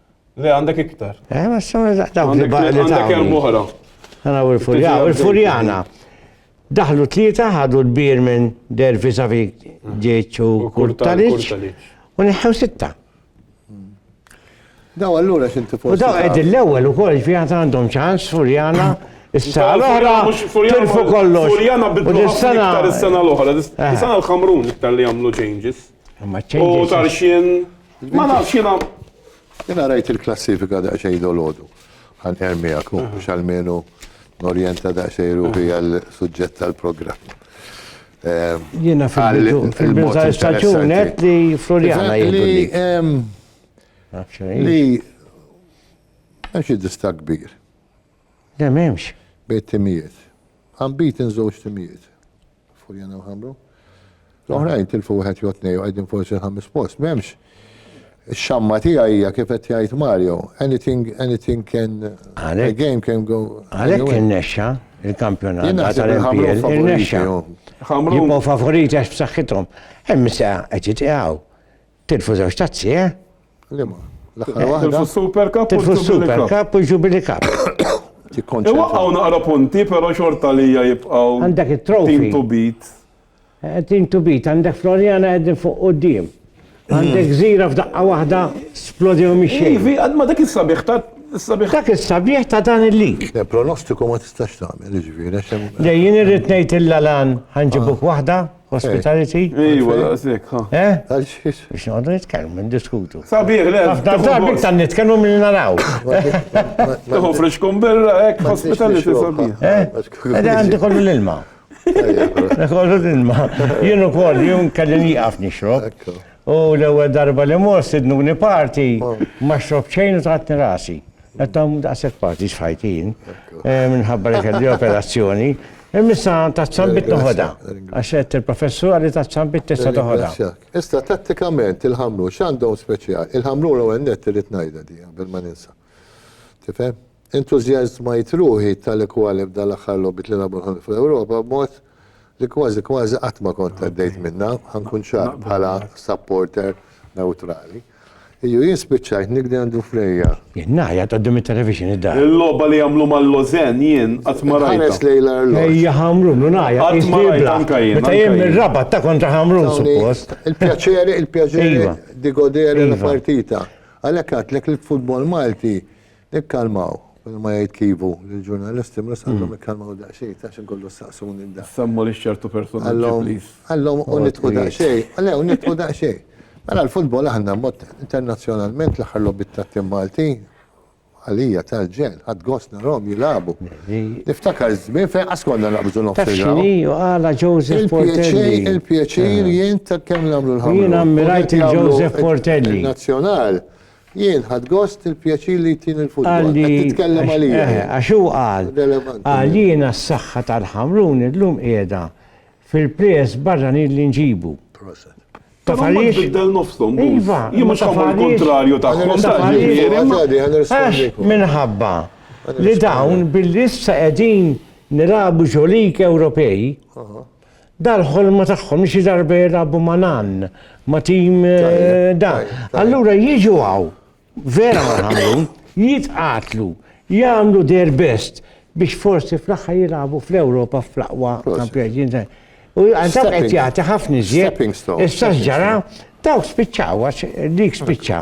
Le, għandek iktar. Eh, ma s-sawna daqdaw li baqli. Għandek hemm oħra. Għana u l-furjana. Il-furjana. Daħlu tlieta, ħadu l-bir minn dervi savi ġieċu kurtaliċ. U neħħew sitta. Daw allura xinti forsi. U daw għed l-ewel u koll ġvijat għandhom ċans, furjana. Issa l-oħra, tilfu kollox. Furjana bidlu l-oħra, l-sena l-ħamrun iktar li għamlu changes. U tarxien. Ma nafx jiena. Jiena rajt il-klassifika daqsxejn dolodu. Għan ermijak, mhux għalmenu norjenta daqsxejn ruħi għal suġġett tal-programm. Ehm, jiena fil-biża staġunet li Floriana jgħidulli. Ehm, li għax id-dista kbir. Dem hemmx. Bejt timijiet. Għambit inżewġ timijiet. Furjana u Ħamru. L-oħrajn tilfu wieħed jew tnej u qegħdin forsi l-ħames post, m'hemmx. Ix-xamma tiegħi hija kif qed jgħid Mario, anything anything can a game can go. Għalhekk innexxa il-kampjonat tal-MPL innexxa. Jibqgħu favoriti għax b'saħħithom. Hemm se qed jitqiegħu. Tilfu żewġ tazzi, eh? Lima, l-aħħar waħda. Tilfu s-Super Cup u s-Super Cup u s-Jubilee Cup. Iwaqqaw naqra punti, pero xorta li jibqaw. Għandek il-trofi. Team to beat. Eh, team to beat, għandek Floriana għedin fuq u d-dim. Għandek zira f'daqqa wahda splodew miexie. Ivi, għadma dak il-sabiħ ta' Sabiħ. Dak il-sabiħ ta' dan il-lig. Le, pronostiku ma tistax tagħmel, ġifieri. Le, jien irrid ngħid il-lalan ħanġibuk waħda. Hospitality? Iwa, daqsek, ha. Eh? Għalxiex? Biex noqdu nitkellmu, ndiskutu. Sabiħ, le. Nafna darbi tan nitkellmu minn naraw. Tuħu friskun birra, ek, hospitality sabiħ. Eh? Għadda għandi kollu l-ilma. Kollu l-ilma. Jienu kol, jien kelli niqaf nixrob. U l-ewwel darba li mor sidnuni party, ma xrob xejn u tagħtni rasi. Qed tagħmlu daqshekk parties f'ħajti jien, eh, minħabba li kelli operazzjoni. Il-missa ta' tzambit noħoda. Għax għed il-professur għalli ta' tzambit tista' toħoda. Issa tattikament il-ħamlu x'għandhom speċjal. Il-ħamlu l-ewwel net irid ngħidha di bil ma ninsa. Tifhem? Entużjażmajt ruħi tali kwali b'dan l-aħħar logħbiet li lagħbu l-ħolm fl-Ewropa b'mod li kważi kważi qatt ma kont għaddejt minnha, ħa nkun ċar, bħala supporter newtrali. Iju jien spiċċajt nikdi għand Dufrejja. Jien ngħajjat quddiem it-televixin id-dar. Il-logħba li għamlu mal-Lożenn jien qatt ma rajtha. Inħares lejn l-arloġġ. Ejja Ħamrun u ngħajjat. Qatt ma rajtha anke jien. Meta jien mir-Rabat ta' kontra Ħamrun suppost. Il-pjaċir, il-pjaċir di godere la partita. Għalhekk għedtlek li l-futbol Malti Ikkalmaw, kull ma jgħid Kivu lill-ġurnalisti mhux għandhom ikkalmaw daqsxejn għax inkunu ssaqsuni mdak. Semmu lil ċertu personaġġi please. Għallhom u nitqu daqsxejn, le u nitqu daqsxejn. Mela l-futbol aħna mod internazzjonalment l-aħħar logħbiet tat-tim Malti għalija tal-ġenn, ħadt gost narahom jilagħbu. Niftakar żmien fejn qas konna naqbżu nofs il-grawnd. Taf x'inhi u għala Joseph Portelli. Il-pjaċir jien ta' kemm nagħmlu l-ħamrun. Jien ammirajt il-Joseph Portelli. Nazzjonal. Jien ħadt gost il-pjaċir li jtini l-futbol. Qed titkellem għalija int. Eħe, għax hu qal, qal jiena s-saħħa tal-Ħamrun illum qiegħda fil-plejers barranin li nġibu. Proset. Taf għaliex? Però tbiddel nofshom Bulls. Iva, Jien mhux ħa mmur kuntrarju tagħhom dan jiġifieri. Għax minħabba li dawn billi issa qegħdin nilagħbu ġo lig Ewropej, Dal-ħolma tagħhom li xi darba jilagħbu ma' nan, ma' tim da. Allura jiġu hawn, vera ma' ħamrun, jitqatlu, jagħmlu their best biex forsi fl-aħħar jilagħbu fl-Ewropa fl-aqwa kampjonat. U għandhom qed jagħti ħafna iżjed. Issa ġara, dawk spiċċaw għax dik spiċċa.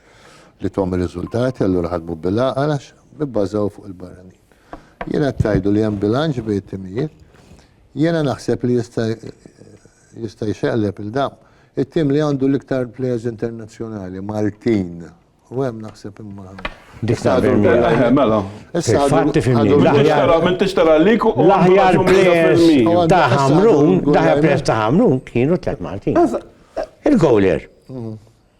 li tgħomm ir-riżultati allura ħadmu bil-għaqal għax bibbażaw fuq il-barranin. Jiena tajdu li hemm bilanċ bejn it-timijiet. Jiena naħseb li jista' jista' jxeqleb il-dam. It-tim li għandu l-iktar players internazzjonali, Martin, u hemm naħseb imma. Mela. L-aħjar players ta' Hamrun, l-aħjar players ta' Hamrun kienu tlet Martin. Il-gowler.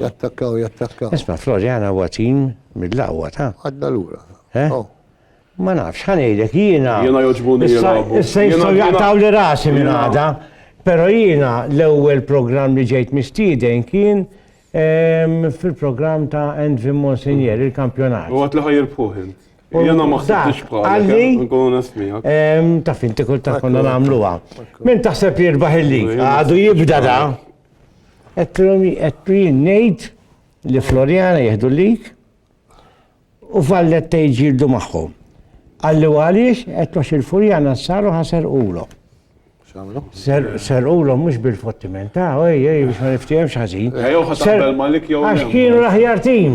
Jattakkaw, jattakkaw. Isma, Floriana huwa tim mill-aqwa ta'. Għadna lura. Eh? Oh. Ma nafx, ħanejlek jiena. Jiena joġbuni jilagħbu. Issa jistgħu jaqtaw li rasi minn għada. Però jiena l-ewwel programm li ġejt mistieden kien ehm, fil-programm ta' Envin Monsignor, il-kampjonat. U għat li ħajirpuħ Jena ma xsibtix bħalek, eh, nkunu nasmijak. Ehm, ta' finti kull ta' konna namluwa. Min taħseb jirbaħ il-lig, għadu jibda da, Għedtilhom għedtu jien ngħid li Floriana jieħdu lik u Valletta jġildu magħhom. Għalli għaliex qed għax il-Furjana saru ħaser ulo. Ser ulo mhux bil-fottiment, ta' ej, ej, biex ma niftihemx ħażin. Għax kienu l-aħjar tim.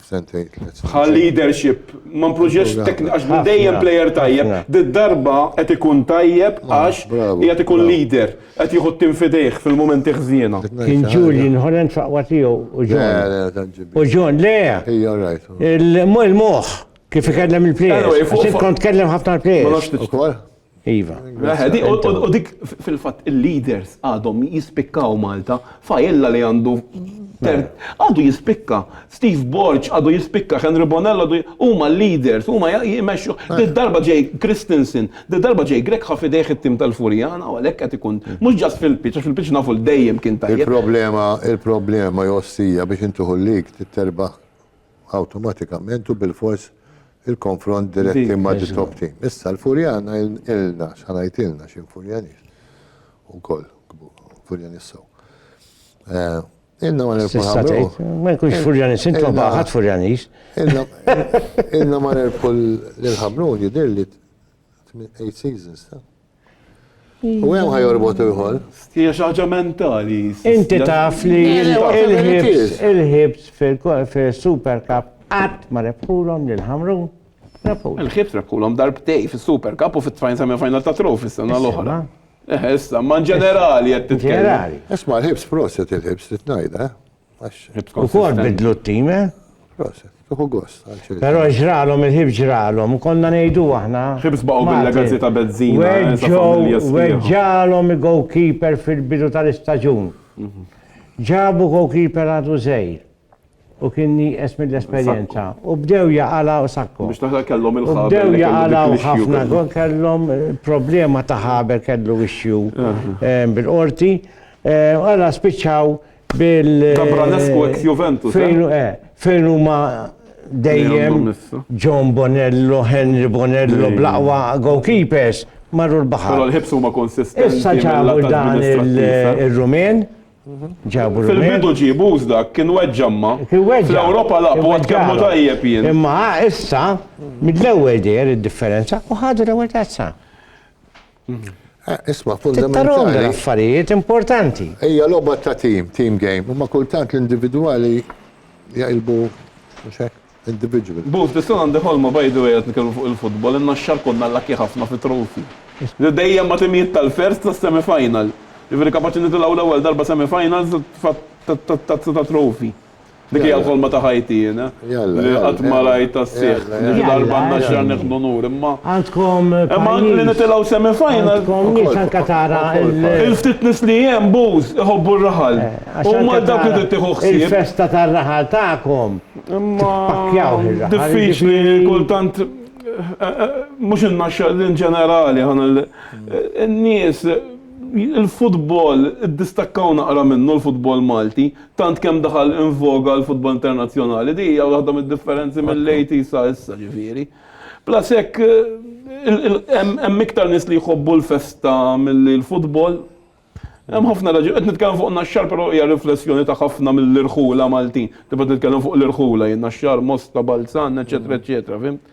sentejn tliet snin. Bħal leadership, ma mpruġiex teknika għax hu dejjem plejer tajjeb, did-darba qed ikun tajjeb għax qiegħed ikun leader, qed jieħu t-tim f'idejh fil-mumenti ħżiena. Kien Julian Holland f'aqwa tiegħu u John. U John, le! Il-moħħ kif ikellem il-plejers. Int kont tkellem ħafna l-plejers. Iva. U dik fil-fatt il-leaders għadhom jispikkaw Malta, fajella li għandu għadu jispikka, Steve Borg għadu jispikka, Henry Bonello għadu huma leaders, huma jmexxu. Di darba ġej Christensen, di darba ġej Greg ħafidejh it-tim tal-Furjana u għalhekk qed ikun mhux ġast fil-pitch, għax fil-pitch nafu dejjem kien tajjeb. Il-problema, il-problema jossija biex intuħu l-lig terbaħ awtomatikament u bilfors il-konfront diretti ma' the top team. Issa l-Furjana ilna, xa ngħid ilna xi Furjanis. Ukoll Furjanis sew. Eh, ilna ma nirbħu ħamru. Ma jkunx Furjanis, intom baħat Furjanis. Ilna ma nirbħu l-ħamrun jidir li 8 seasons ta' U hemm ħajorbot ieħor. Hija xi ħaġa mentali. Inti taf li il-ħibs fil-Super Cup qatt ma rebħulhom lil Ħamrun. Il-ħibs rebħulhom darbtej fis-Super Cup u fit-tfajn semi final ta' trofi s-sena l-oħra. Issa, ma' ġenerali qed titkellem. Ġenerali. Isma' l-ħibs proset il-ħibs li tnajda. U kol bidlu t-tim, eh? Proset, tuħu gost. Pero ġralom il-ħib ġralom, u konna nejdu aħna. Ħib sbaqu bil-legazi ta' bezzina. Eh, Weġġalom il-goalkeeper fil-bidu tal-istagġun. Mhm. Ġabu goalkeeper għadu zejr. U kien nieqes mill-esperjenza. U bdew jaqala u sakku. Biex taħla kellhom il-ħabel. U bdew jaqala u ħafna kellhom eh, problema ta' ħabel kellu ixju eh, bil-qorti. Għala spiċċaw Gabranescu ex Juventus. Fejn huma dejjem John Bonello, Henry Bonello, blaqwa goalkeepers marru l-baħar. Però l-ħibs huma konsistenti. Issa ġabu dan il-Rumen. Ġabu Fil-bidu ġibu dak kien weġġamma. Fl-Ewropa laqbu għad kemmu tajjeb jien. Imma issa mill-ewwel dejjer id-differenza u ħadu l-ewwel tazza. Isma' fundamentali. Tittarhom affarijiet importanti. Hija logħba ta' team, team game, imma kultant l-individwali jaqilbu mhux hekk? Individual. Booth, tista' għandi ħolma by the way qed nitkellmu fuq il-futbol, inna x-xahar konna lucky ħafna fi trophy. Dejjem ma' timijiet tal-first tas-semi final. Jiġifieri kapaċi nitilgħu l-ewwel darba semi finals ta' trophy. Dik hija l-ħolma ta' ħajti jiena, li qatt ma rajt tas-sieħ. Xi darba għandna x-xerf nieħdu nur, imma. Għandkom pajjiż. Li nitilgħu semi final. Għandkom nies anke tara l. Il-ftit nies li hemm bouze iħobbu r-raħal. U huma dawk li trid tieħu ħsieb. Il-festa tar-raħal tagħkom. Imma. Pakjawh ir-raħal. Diffiċli kultant. Mhux in-naxxa in ġenerali ħa ngħid. In-nies, il-futbol, iddistakkaw naqra minnu l-futbol Malti. Tant kemm daħal in voga l-futbol internazzjonali, din hija waħda mid-differenzi mill-80s sa issa, ġifieri. Plus hekk hemm iktar nies li jħobbu l-festa milli l-futbol. Hemm ħafna raġunijiet. Qed nitkellem fuq Naxxar però hija riflessjoni ta' ħafna mill-irħula Maltin. Kif qed nitkellem fuq l-irħula jien, Naxxar, Mosta, Balzan, eċċetera eċċetera, fimt?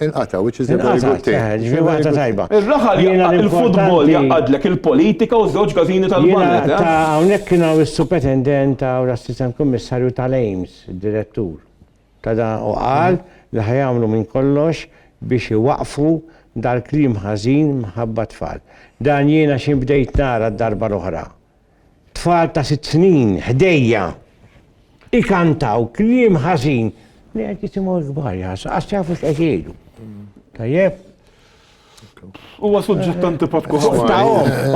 Inqata, which is a very good thing. Inqata, ġifieri waħda tajba. Ir-raħal jaqgħad il-futbol jaqgħadlek il-politika u żewġ każini tal-banet. Ta' hawnhekk kien hawn is-supetendent u l-assistent kummissarju tal-AIMS, id-direttur. Ta' da u qal li ħajamlu minn kollox biex iwaqfu dal-klim ħażin mħabba tfal. Dan jiena xi bdejt nara d-darba l-oħra. tfal ta' sitt snin ħdejja ikantaw kliem ħażin li qed jisimgħu l-kbar jasa, għax jafu x'qed jgħidu. Tajjeb? Huwa suġġett antipatku ħafna.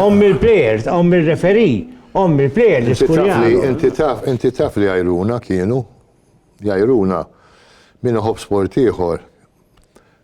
Om il-plejers, om il-referi, om il-plejers diskurjani. Inti taf, inti taf li għajruna kienu, jajruna minn ħob sport ieħor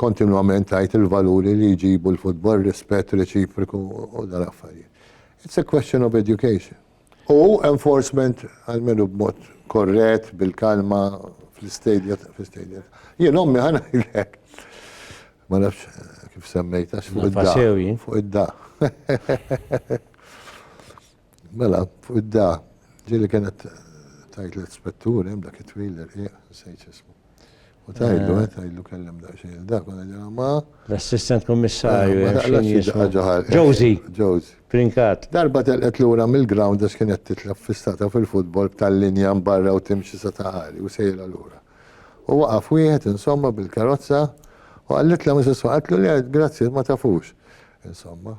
kontinwament tajt il-valuri li jġibu l-futbol, rispett reċipriku u dal-affarijiet. It's a question of education. U enforcement għal-menu b'mod korret, bil-kalma, fl-istadja, fl-istadja. Jien ommi ħana jilek. Ma nafx eh, kif semmejta, fuq id-da. Fuq id-da. Mela, fuq id-da, ġili kienet tajt l-ispettur, jem dak it-twil l-irqiq, sejċ ismu. U tajlu, eh, tajlu kellem da xejn il-dak, u għadja ma. L-assistant kommissarju, eh, xejn jismu. Ġozi. Ġozi. Prinkat. Darba telqet l-ura mill-ground għax kienet titlab fistata fil-futbol b'tal-linja mbarra u timxi sa taħari u sejra l-ura. U waqaf wieħed insomma bil-karozza u għallitla mis-siswa għatlu li għed grazzi ma tafux. Insomma.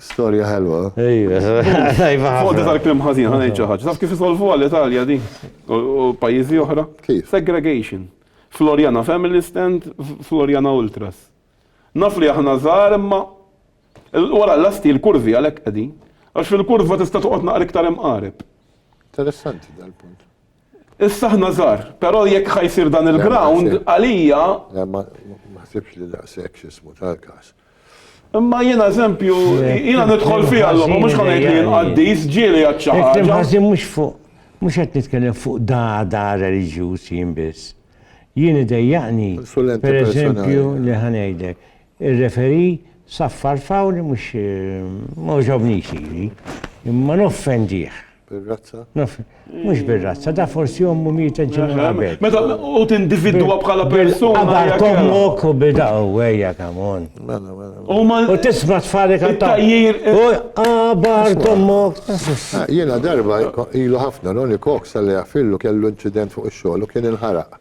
Storja ħelwa. Fodda tal-klim ħażin, ħana ngħid xi ħaġa. Taf kif isolvuha l-Italja di? U pajjiżi oħra? Kif? Segregation. Floriana Family Stand, Floriana Ultras. Naf li aħna żgħar imma wara l-lasti l-kurvi għalhekk qegħdin. Għax fil-kurva tista' toqgħod naqra iktar imqareb. Interessanti dal-punt. Issa aħna żgħar, però jekk ħa jsir dan il-ground, għalija. Le, ma naħsibx li daqshekk x'ismu ta' l-każ. Imma jiena eżempju, jiena nidħol fiha l-logħba, mhux ħa ngħid li jien qaddis, ġieli għad xi ħaġa. Kliem ħażin mhux fuq, mhux qed nitkellem fuq dagħda reliġjuż jien biss. Jien idejjaqni, pereżempju, li ħa ngħidlek, Ir-referee saffar foul li mhux ma għoġobnix lili. Imma noffendih. Bir-razza? Mhux bir-razza, da forsi ommu mietet ġimgħa qabel. Meta u tindividwa bħala persuna. Bil-qabar t'ommok u bil u ejja come on. Mela, mela. U tisma' tfalek għat-tajjir. U qabar t'ommok. Jiena darba ilu ħafna Ronnie Cox għalli għafillu kellu inċident fuq ix-xogħol u kien inħaraq.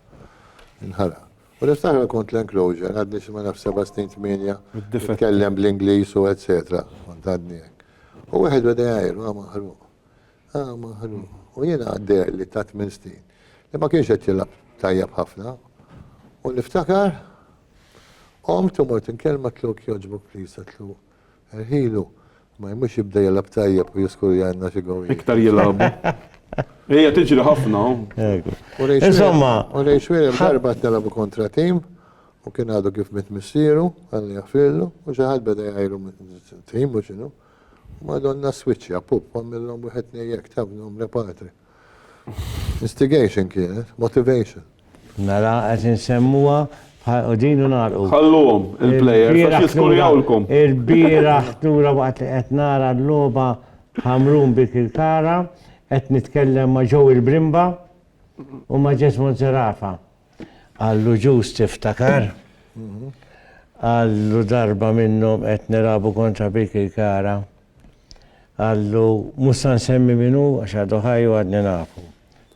Inħaraq. U nista' nagħmel kont l-enclosure, għadni xi ma nafx seba' snin tmienja nitkellem bl-Ingliż u etsetera, kont għadni hekk. U wieħed beda jgħajr, ah maħruq, ah maħruq. U jiena deherli ta' tmien snin li ma kienx qed jilgħab tajjeb ħafna. U niftakar qomt u mort inkellem għatlu jekk jogħġbok please għatlu Ħinu, ma jmux jibda jilgħab tajjeb u jiskur jgħinna xi gowwijiet. Iktar jilgħabu. Hija tiġri ħafna u. Hekk. Insomma. U Ray Swearer darba qed nilgħabu kontra tim u kien għadu kif miet missieru, Alla jaħfirlu, u xi ħadd beda jgħajru tim u x'inhu. Madonna swiċċja, pup, għamilhom wieħed tnejn hekk, taf, nagħmlu patri. Instigation kienet, motivation. Mela qed insemmuha u din u nagħlqu. Ħalluhom il-plejers għax jiskuljawlkom. Il-bieraħ tura waqt li qed nara l-logħba Ħamrun bi Kirkara qed nitkellem ma' ġew il-Brimba u ma' Jesmond Zerafa. Għallu ġus tiftakar. Għallu darba minnhom qed nilagħbu kontra bi Kirkara. Qallu, Mhux sa nsemmi min hu, għax għadu ħaj u għadni nafu.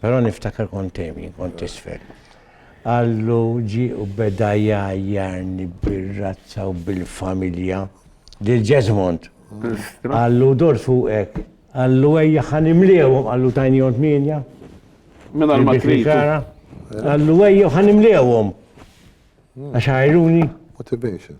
Però niftakar kont hemm jien, kont t'isfel. Qallu, Ġie u beda jgħajjarni bir-razza u bil-familja. Lil Jesmond. Qallu, Dor fuqek. Qallu, Ejja ħa nimliehom, qallu tajnihom tmienja. Mingħajr ma trid. Qallu, Ejja ħa nimliehom. Għax għajruni. Motivation.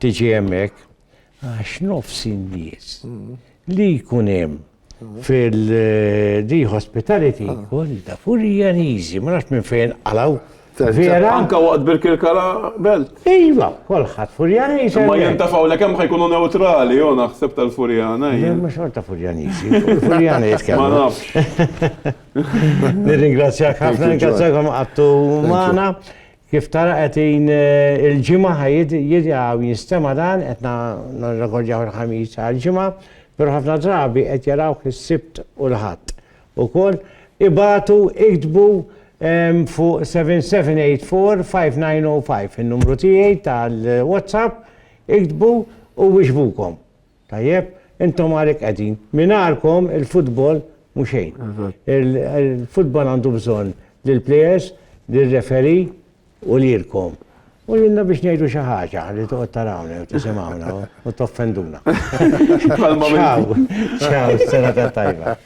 tiġi hemmhekk għax nofs in-nies li jkun hemm fil-di hospitality kollha furjaniżi, ma nafx minn fejn qalaw. Vera? Anka waqt bil-kirkala belt. Iva, kolħat furjaniżi. Ma jintafaw li kemm ħajkunu neutrali, jo naħseb tal-furjana. Ma xorta furjaniżi. Furjana jitkellmu. Ma nafx. Nirringrazzjak ħafna, nirringrazzjakom għattu maħna. Kif tara qed in il-Ġimgħa ħa jidgħu jinstema' dan qed nirrekordjaw il-Ħamis għal Ġimgħa, però ħafna drabi qed jarawh is-Sibt u l-Ħadd ukoll. Ibagħtu, iktbu fuq 7784 5905 in-numru tiegħi tal-WhatsApp, iktbu u wieġbukom. Tajjeb, intom għalhekk qegħdin. Mingħajrkom il-futbol mhu xejn. Il-futbol għandu bżonn lill-plejers, lir-referi u lilkom. U lilna biex ngħidu xi ħaġa li toqgħod tarawna u tisimgħuna u toffenduna. Ciao, ciao, sena tajba.